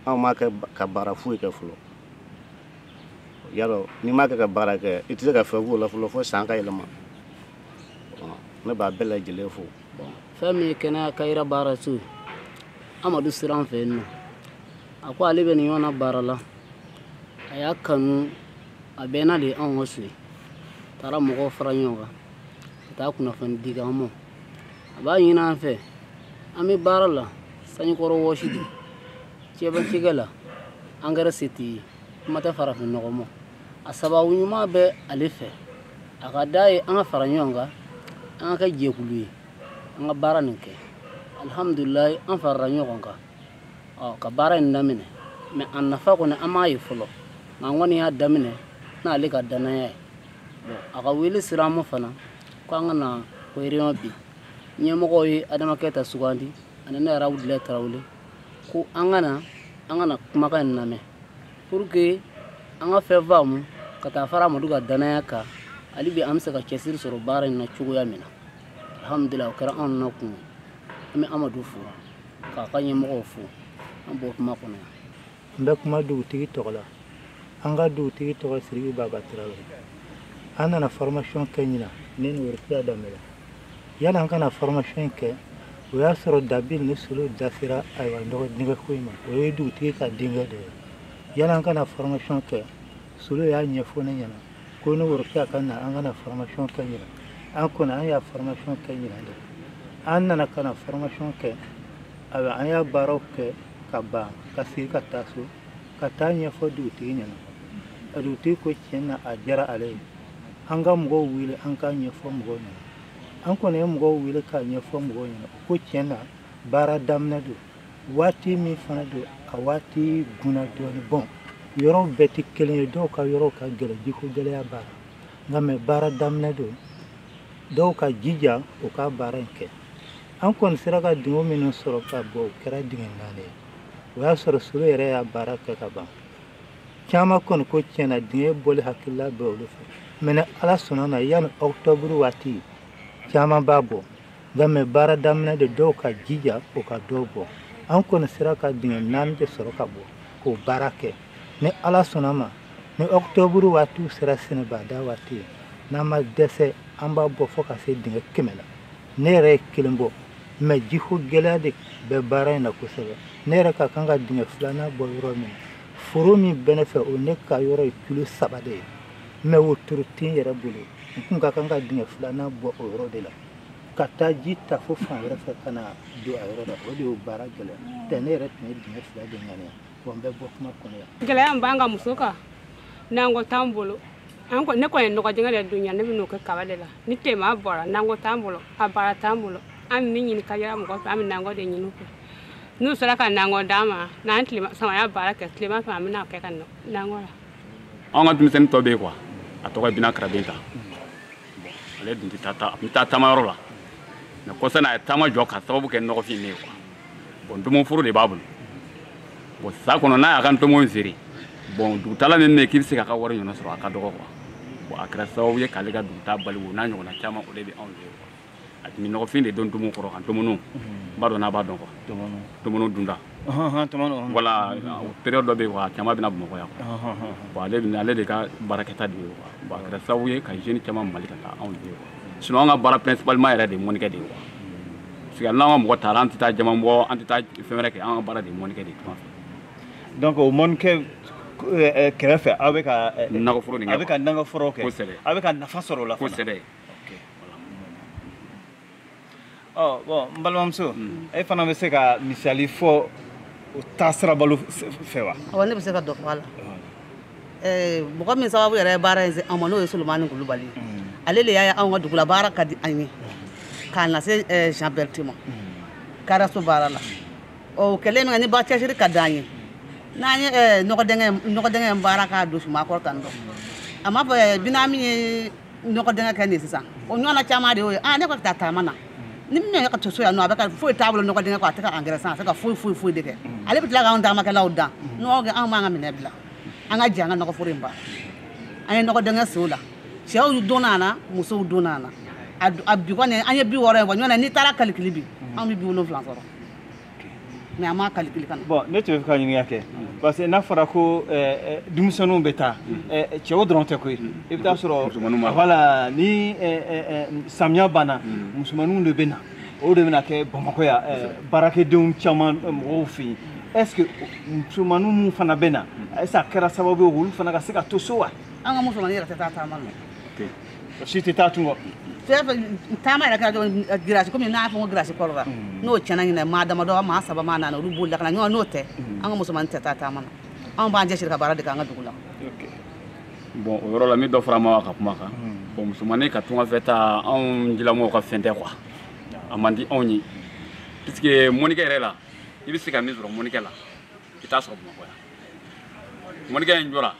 anw m'a kɛ ka baara foyi kɛ fɔlɔ i y'a dɔn n'i m'a kɛ ka baara kɛ i tɛ se ka fɛn k'o la fɔlɔ fo san ka yɛlɛma ne b'a bɛɛ lajɛlen fo fɛn min ye kɛnɛya kayira baara so ye amadu sira fɛ yen nɔ a ko ale bɛ nin yɔrɔ na baara la a y'a kanu a bɛnna de anw ka so ye a taara mɔgɔw fara ɲɔgɔn kan ka taa kunnafoni di an ma a b'a ɲini an fɛ an bɛ baara la sanjikɔrɔwɔsi de cɛbacikɛ la engrais se t'i ye kuma tɛ farafinnɔgɔ ma a sababu ɲuman bɛ ale fɛ a ka d'a ye an ka fara ɲɔgɔn kan an ka kɛ jɛkulu ye an ka baara nin kɛ alihamudulilayi an farala ɲɔgɔn kan ɔ ka baara in daminɛ mais a nafa kɔni an m'a ye fɔlɔ nka an kɔni y'a daminɛ n'ale ka dannaya ye bon a ka wele sera an ma fana ko an ka na ko réunion bi ɲɛmɔgɔw ye adama keyita sugandi ani ne yɛrɛ abudulayi tarawele ko an ka na an ka na kumakan in lamɛn pour que an ka fɛn faamu ka taa fara amadu ka dannaya kan hali bi an bɛ se ka cɛsiri sɔrɔ baara in na cogoya min na alhamdulillah o kɛra anw na kun ye an bɛ amadu fo k'a ka ɲɛmɔgɔw fo an b'o kuma kɔnɔ yan n bɛ kuma dugutigi tɔgɔ la an ka dugutigi tɔgɔ siriki baba tarawele an nana formation kɛ ɲina ne ni worokiya danbɛlɛ yani an ka na formation kɛ o y'a sɔrɔ dabil ni solo da sera ayiwa nɔgɔdingɛko in ma o ye dugutigi ka denkɛ de ye yani an ka na formation kɛ solo y'a ɲɛfɔ ne ɲɛna ko ne ni worokiya ka na an ka na formation kɛ ɲina an kɔni an y'a formation kɛ ɲina de an nana ka na formation kɛ a bɛ an y'a baaraw kɛ ka ban ka sigi ka taa so ka t'a ɲɛfɔ dugutigi ɲɛna a dugutigi ko tiɲɛ na a diyara ale ye an ka mɔgɔw wele an k'a ɲɛfɔ mɔgɔw ɲɛna an kɔni ye mɔgɔw wele k'a ɲɛfɔ mɔgɔw ɲɛna u ko tiɲɛ na baara daminɛ don waati min fana don a waati guna dɔɔni bɔn yɔrɔw bɛɛ tɛ kelen ye dɔw ka yɔrɔw ka gɛlɛn jiko gɛlɛya b'a la nka mɛ baara daminɛ don dɔw ka jija u ka baara in kɛ an kɔni sera ka dingɛ minnu sɔrɔ ka bɔ o kɛra dingɛ naani ye o y'a sɔrɔ solo yɛrɛ y'a baara kɛ ka ban caman kɔni ko tiɲɛ na dingɛ bɔli hakilila bɛ olu fɛ mɛ ala sɔnna na yanni ɔkutɔburu waati caman b'a bɔ Nka mɛ baara daminɛ de dɔw ka jija o ka dɔw bɔ an kɔni sera ka dingɛ naani de sɔrɔ ka bɔ k'o baara kɛ ni ala sɔnna ma ni ɔkutɔburu waati sera sɛnɛbada waati ye n'an ma dɛsɛ an b'a bɔ fo ka se dingɛ kɛmɛ la ne yɛrɛ ye kelen bɔ mɛ jiko gɛlɛya de bɛ baara in na kosɛbɛ ne yɛrɛ ka kan ka dingɛ filanan bɔ yɔrɔ min foro min bɛ ne fɛ o ne ka yɔrɔ ye kilo saba de ye mɛ wotoro tɛ n yɛrɛ bolo n tun ka kan ka dingɛ filanan bɔ o yɔrɔ de la ka taa ji ta fo fan wɛrɛ fɛ ka na don a yɔrɔ la o de y'o baara gɛlɛya tɛ ne yɛrɛ tun ye dingɛ fila de ŋaniya wa n bɛ bɔ kuma kɔnɔ yan gɛlɛya min b'an ka muso kan nakɔ t'an bolo an ko ne kɔni ye nɔgɔ dingɛ de don yan ne bɛ n'o kɛ kaba de la ni tilema bɔra nakɔ t'an bolo a baara t'an bolo an bɛ min ɲini ka yɛrɛ mɔgɔ fɛ an bɛ nakɔ de ɲini u fɛ n'u sera ka nakɔ d'an ma n'an tilala samaya baara kɛ tilema fɛ an bɛ n'a kɛ ka nakɔ la an ka denmisɛnnin dɔ bɛ yen kuwa a tɔgɔ ye bina karabenta ale dun tun bɛ taa taamayɔrɔ la mɛ kɔsa na a ye taama jɔ ka sababu kɛ nɔgɔfin de ye kuwa bɔn ntomoforo de b'a bolo bɔn san kɔnɔ n'a y'a ka ntomo in feere bɔn dugutaala min bɛ yen k'i bɛ se k'a ka wari ɲɔgɔn sɔrɔ a ka dɔgɔ kuwa bɔn a kɛra sababu ye k'ale ka dugutaa bali o n'a ɲɔgɔnna caman o de bɛ anw fɛ kuwa a tun bɛ nɔgɔfin de don tomo kɔrɔ kan tɔmɔnɔ n b'a dɔn n'a b'a dɔn kuwa tɔmɔnɔ dunda voilà période dɔ bɛ yen wa caman bɛ na bamakɔ yan bon ale bɛ ale de ka baarakɛta de ye kuwa bon a kɛra sababu ye ka jeunes caman bali ka taa anw de ye kuwa sinon an ka baara principalement yɛrɛ de ye mɔnnikɛ de ye kuwa parce que n'an ka mɔgɔ taara an tɛ taa jama bɔ an tɛ taa fɛn wɛrɛ kɛ an ka baara de ye mɔnnikɛ de ye tuma fɛ donc o mɔnnikɛ kɛrɛfɛ aw bɛ ka nakɔforo nin kɛ a bɛ ka nakɔforo kɛ kosɛbɛ a bɛ ka nafa sɔrɔ o la kosɛbɛ bɔn n balimamuso e fana bɛ se ka misali fɔ o taasira bolo fɛ wa awɔ ne bɛ se ka dɔ fɔ a la mɔgɔ min sababu yɛrɛ ye baara in se an ma n'o ye solomani kulubali ye ale de y'a ye anw ka dugula baara ka di an ye k'a lase jean berti ma karaso baara la o kɛlen min kɛ ni ba cɛsiri ka d'an ye n'an ye nɔgɔdɛngɛ nɔgɔdɛngɛ baara k'a don suman kɔrɔ tan dɔ a m'a fɔ binamin ye nɔgɔ dɛngɛ kɛ nin sisan o ɲɔgɔnna caman de y'o ye ah ne ko ka taa taama na ni min yɛrɛ ka to so yan nɔ a bɛ ka foyi t'a bolo nɔgɔ dɛngɛ kɔ a tɛ ka angɛrɛ san a tɛ ka foyi foyi foyi de kɛ mm. ale bɛ tila k'anw taamakɛlaw dan mm. nɔgɔ kɛ anw b'an ka minɛn bila an ka jɛ an ka nɔgɔ foro in ban an ye nɔgɔ dɛngɛ sen o la cɛw donna a la musow donna a la a bi kɔni an ye bi wɔɔrɔ ye wa ɲɔgɔn na n'i taara kalikili bi mm. anw bɛ bi wolonwula sɔrɔ mais a ma calcul ka ɲa bon ne tun b'a fɛ ka ɲininkali kɛ parce que n'a fɔra ko denmisɛnninw bɛ taa cɛw dɔrɔn tɛ koyi i bɛ t'a sɔrɔ voilà ni samiya banna musomaninw de bɛ na o de bɛna kɛ bamakɔ yan baarakɛdenw caman mɔgɔw fɛ yen est ce que musomaninw minnu fana bɛ na est ce que a kɛra sababu ye olu fana ka se ka to so wa an ka musomanin yɛrɛ tɛ taa taama na si tɛ taa tunga fɛ fɛn taama yɛrɛ kɛra dɔrɔn eh, girasi komi n'a fɔ ko girasi kɔrɔ la mm. n'o tiɲɛna ɲinan maa damadɔ maa saba maa naani olu b'o lakana ɲɔgɔn n'o tɛ mm. an ka musomanin tɛ taa taama na anw b'an cɛsiri ka baara de kɛ an ka dugu la bon o yɔrɔ la n bɛ dɔ fara Mawa ka kuma kan mm. bon musomanin ka tunga fɛ taa anw jilamɔgɔw ka fɛn tɛ quoi a man di anw ye puisque mɔnikɛ yɛrɛ la i bɛ se ka min sɔrɔ mɔnikɛ la i t'a sɔrɔ bamakɔ yan mɔnikɛ in jɔra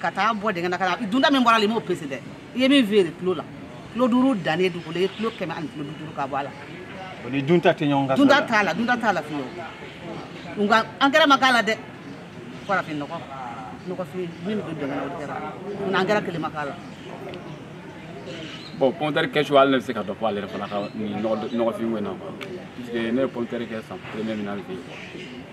ka taa bɔ dingɛ na ka na dunta min bɔra a la i m'o pese dɛ i ye min feere kilo la kilo duuru dannen dugukolo i ye kilo kɛmɛ ani kilo duuru ka bɔ a la o ni dunta tɛ ɲɔgɔn kan dunta t'a la dunta t'a la fiyewu nka angɛrɛ ma k'a la dɛ farafin nɔgɔ nɔgɔfin min bɛ don dingɛ na o kɛra nka angɛrɛ kelen ma k'a la bon pɔntɛri kɛcogo hali ne bɛ se ka dɔ fɔ ale yɛrɛ fana ka nin nɔgɔfin ko in na quoi puisque ne ye pɔntɛri kɛ san premier min na an fɛ yen quoi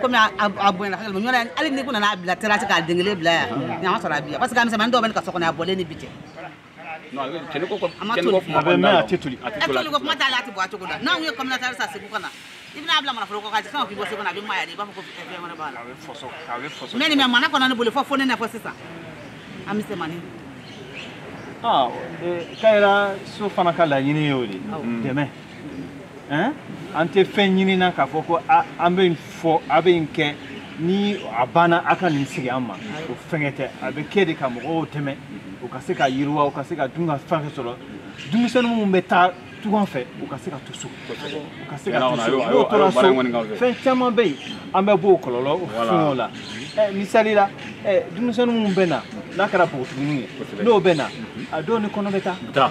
komi a bonyana ka gɛlɛn ɲɔna hali ni ko nana a bila terasi k'a den kelen bila yan ɲama sɔrɔ a bi yan parce que a misɛnmanin dɔw bɛ ne ka so kɔnɔ a bɔlen ni bi cɛ toliko kuma t'a la a tɛ bɔ a cogo la n'anw ye kɔmitɛri san segu ka na i bɛn'a bila mana foroko ka fɛn o k'i bɔ segu na a bɛ maya de i b'a fɔ ko fɛn wɛrɛ b'a la mais nin bɛ mana kɔnɔ ne bolo fo fo nɛnɛ fo sisan a misɛnmanin kayira so fana ka laɲini ye o de dɛmɛ hein? an tɛ fɛn ɲinina k'a fɔ ko an bɛ nin fɔ a bɛ nin kɛ ni a banna a ka nin segin an ma o fɛngɛ tɛ a bɛ kɛ de ka mɔgɔw dɛmɛ u ka se ka yiriwa u ka se ka dunkafa fɛn sɔrɔ denmisɛnnin minnu bɛ taa tunga fɛ u ka se ka to so u ka se ka to so n'u tora so fɛn caman bɛ yen an bɛ bɔ o kɔlɔlɔ fɛnw la misali la denmisɛnnin minnu bɛ na n'a kɛra npogotigininw ye n'u bɛ na a dɔw ni kɔnɔ bɛ taa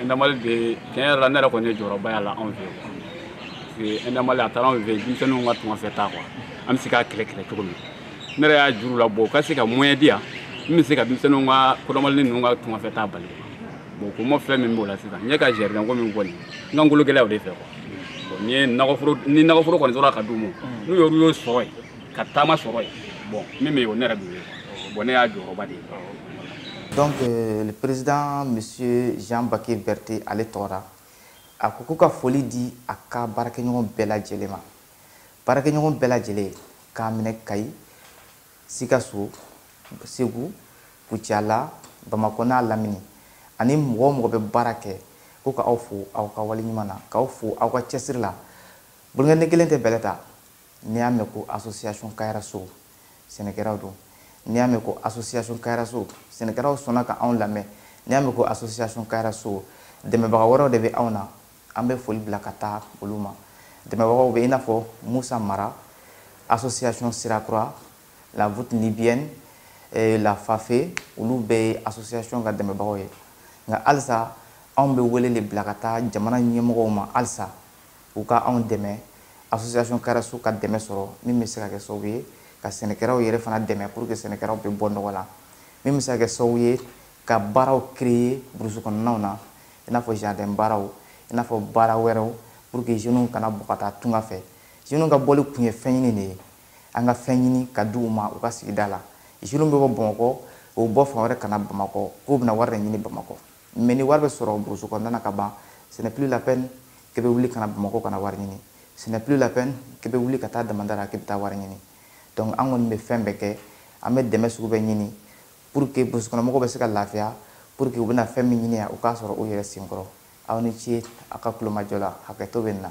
Endamali bɛ tiɲɛ yɛrɛ la ne yɛrɛ kɔni ye jɔyɔrɔba y'a la anw fɛ yen Endamali a taara anw fɛ yen denmisɛnninw ka tunganfɛ taa quoi an bɛ se k'a kɛlɛ kɛlɛ cogo min ne yɛrɛ y'a jira u la bon u ka se ka moyen di yan min bɛ se ka denmisɛnninw dɔgɔmanin ninnu ka tunganfɛ taa bali bon komi fɛn min b'o la sisan ne ka jardin ko min kɔni n ka ngolo gɛlɛya o de fɛ quoi bon ni ye nakɔforo ni nakɔforo kɔni sɔrɔla ka d'u ma n'u y'olu y'o sɔrɔ yen ka taama sɔrɔ yen bon min bɛ yen o ne yɛrɛ b'o ye bon ne y'a jɔyɔrɔba de ye donc euh, le président monsieur jean bake berté ale tɔgɔ ra a ko ko ka foli di a ka baarakɛɲɔgɔn bɛɛ lajɛlen ma baarakɛɲɔgɔn bɛɛ lajɛlen k'a minɛ kayi sikaso segu kucala bamakɔ n'a lamini ani mɔgɔ o mɔgɔ bɛ baara kɛ ko ka aw fo aw ka waleɲuman na k'aw fo aw ka cɛsiri la bolonkɔnin kelen tɛ bɛlɛ ta n'i y'a mɛn ko association kayarasow sɛnɛkɛlaw don n'i y'a mɛn ko association kayarasow sɛnɛkɛlaw sɔnna ka anw lamɛn n'i y'a mɛn ko association kayarasow dɛmɛbaga wɛrɛw de bɛ anw na an bɛ foli bila ka taa olu ma dɛmɛbagaw bɛ i n'a fɔ musa mara association sirakura la voûte nubienne eh, la fafe olu bɛɛ ye association ka dɛmɛbagaw ye nka halisa anw bɛ wele de bila ka taa jamana ɲɛmɔgɔw ma halisa u ka anw dɛmɛ association kayaraso ka dɛmɛ sɔrɔ min bɛ se ka kɛ sababu ye ka sɛnɛkɛlaw yɛrɛ fana dɛmɛ pour que sɛnɛkɛlaw bɛ bɔ nɔgɔ la min bɛ se ka kɛ sababu ye ka baaraw créer burusi kɔnɔnaw na i n'a fɔ jardin baaraw i n'a fɔ baara wɛrɛw pour que jeunes kana bɔ ka taa tunga fɛ jeunes ka bɔli kun ye fɛn ɲini de ye an ka fɛn ɲini ka di u ma u ka sigida la jeunes bɛ bɔ bamakɔ u bɔ fan wɛrɛ ka na bamakɔ k'u bɛna wari de ɲini bamakɔ mais ni wari bɛ sɔrɔ burusu kɔnɔna na ka ban ce n'est plus la peine k'e bɛ wuli ka na bamakɔ ka na wari ɲini ce n'est plus la peine k'e bɛ wuli ka taa damanda la k'i bɛ taa wari ɲini donc an kɔni bɛ fɛn bɛɛ kɛ an bɛ dɛmɛ sugu bɛɛ ɲini pour que burusu kɔnɔmɔgɔw bɛ se ka lafiya pour que u bɛna fɛn min ɲini yan u k'a sɔrɔ u yɛrɛ senkɔrɔ aw ni ce a ka kulomajɔ la hakɛto bɛ nin na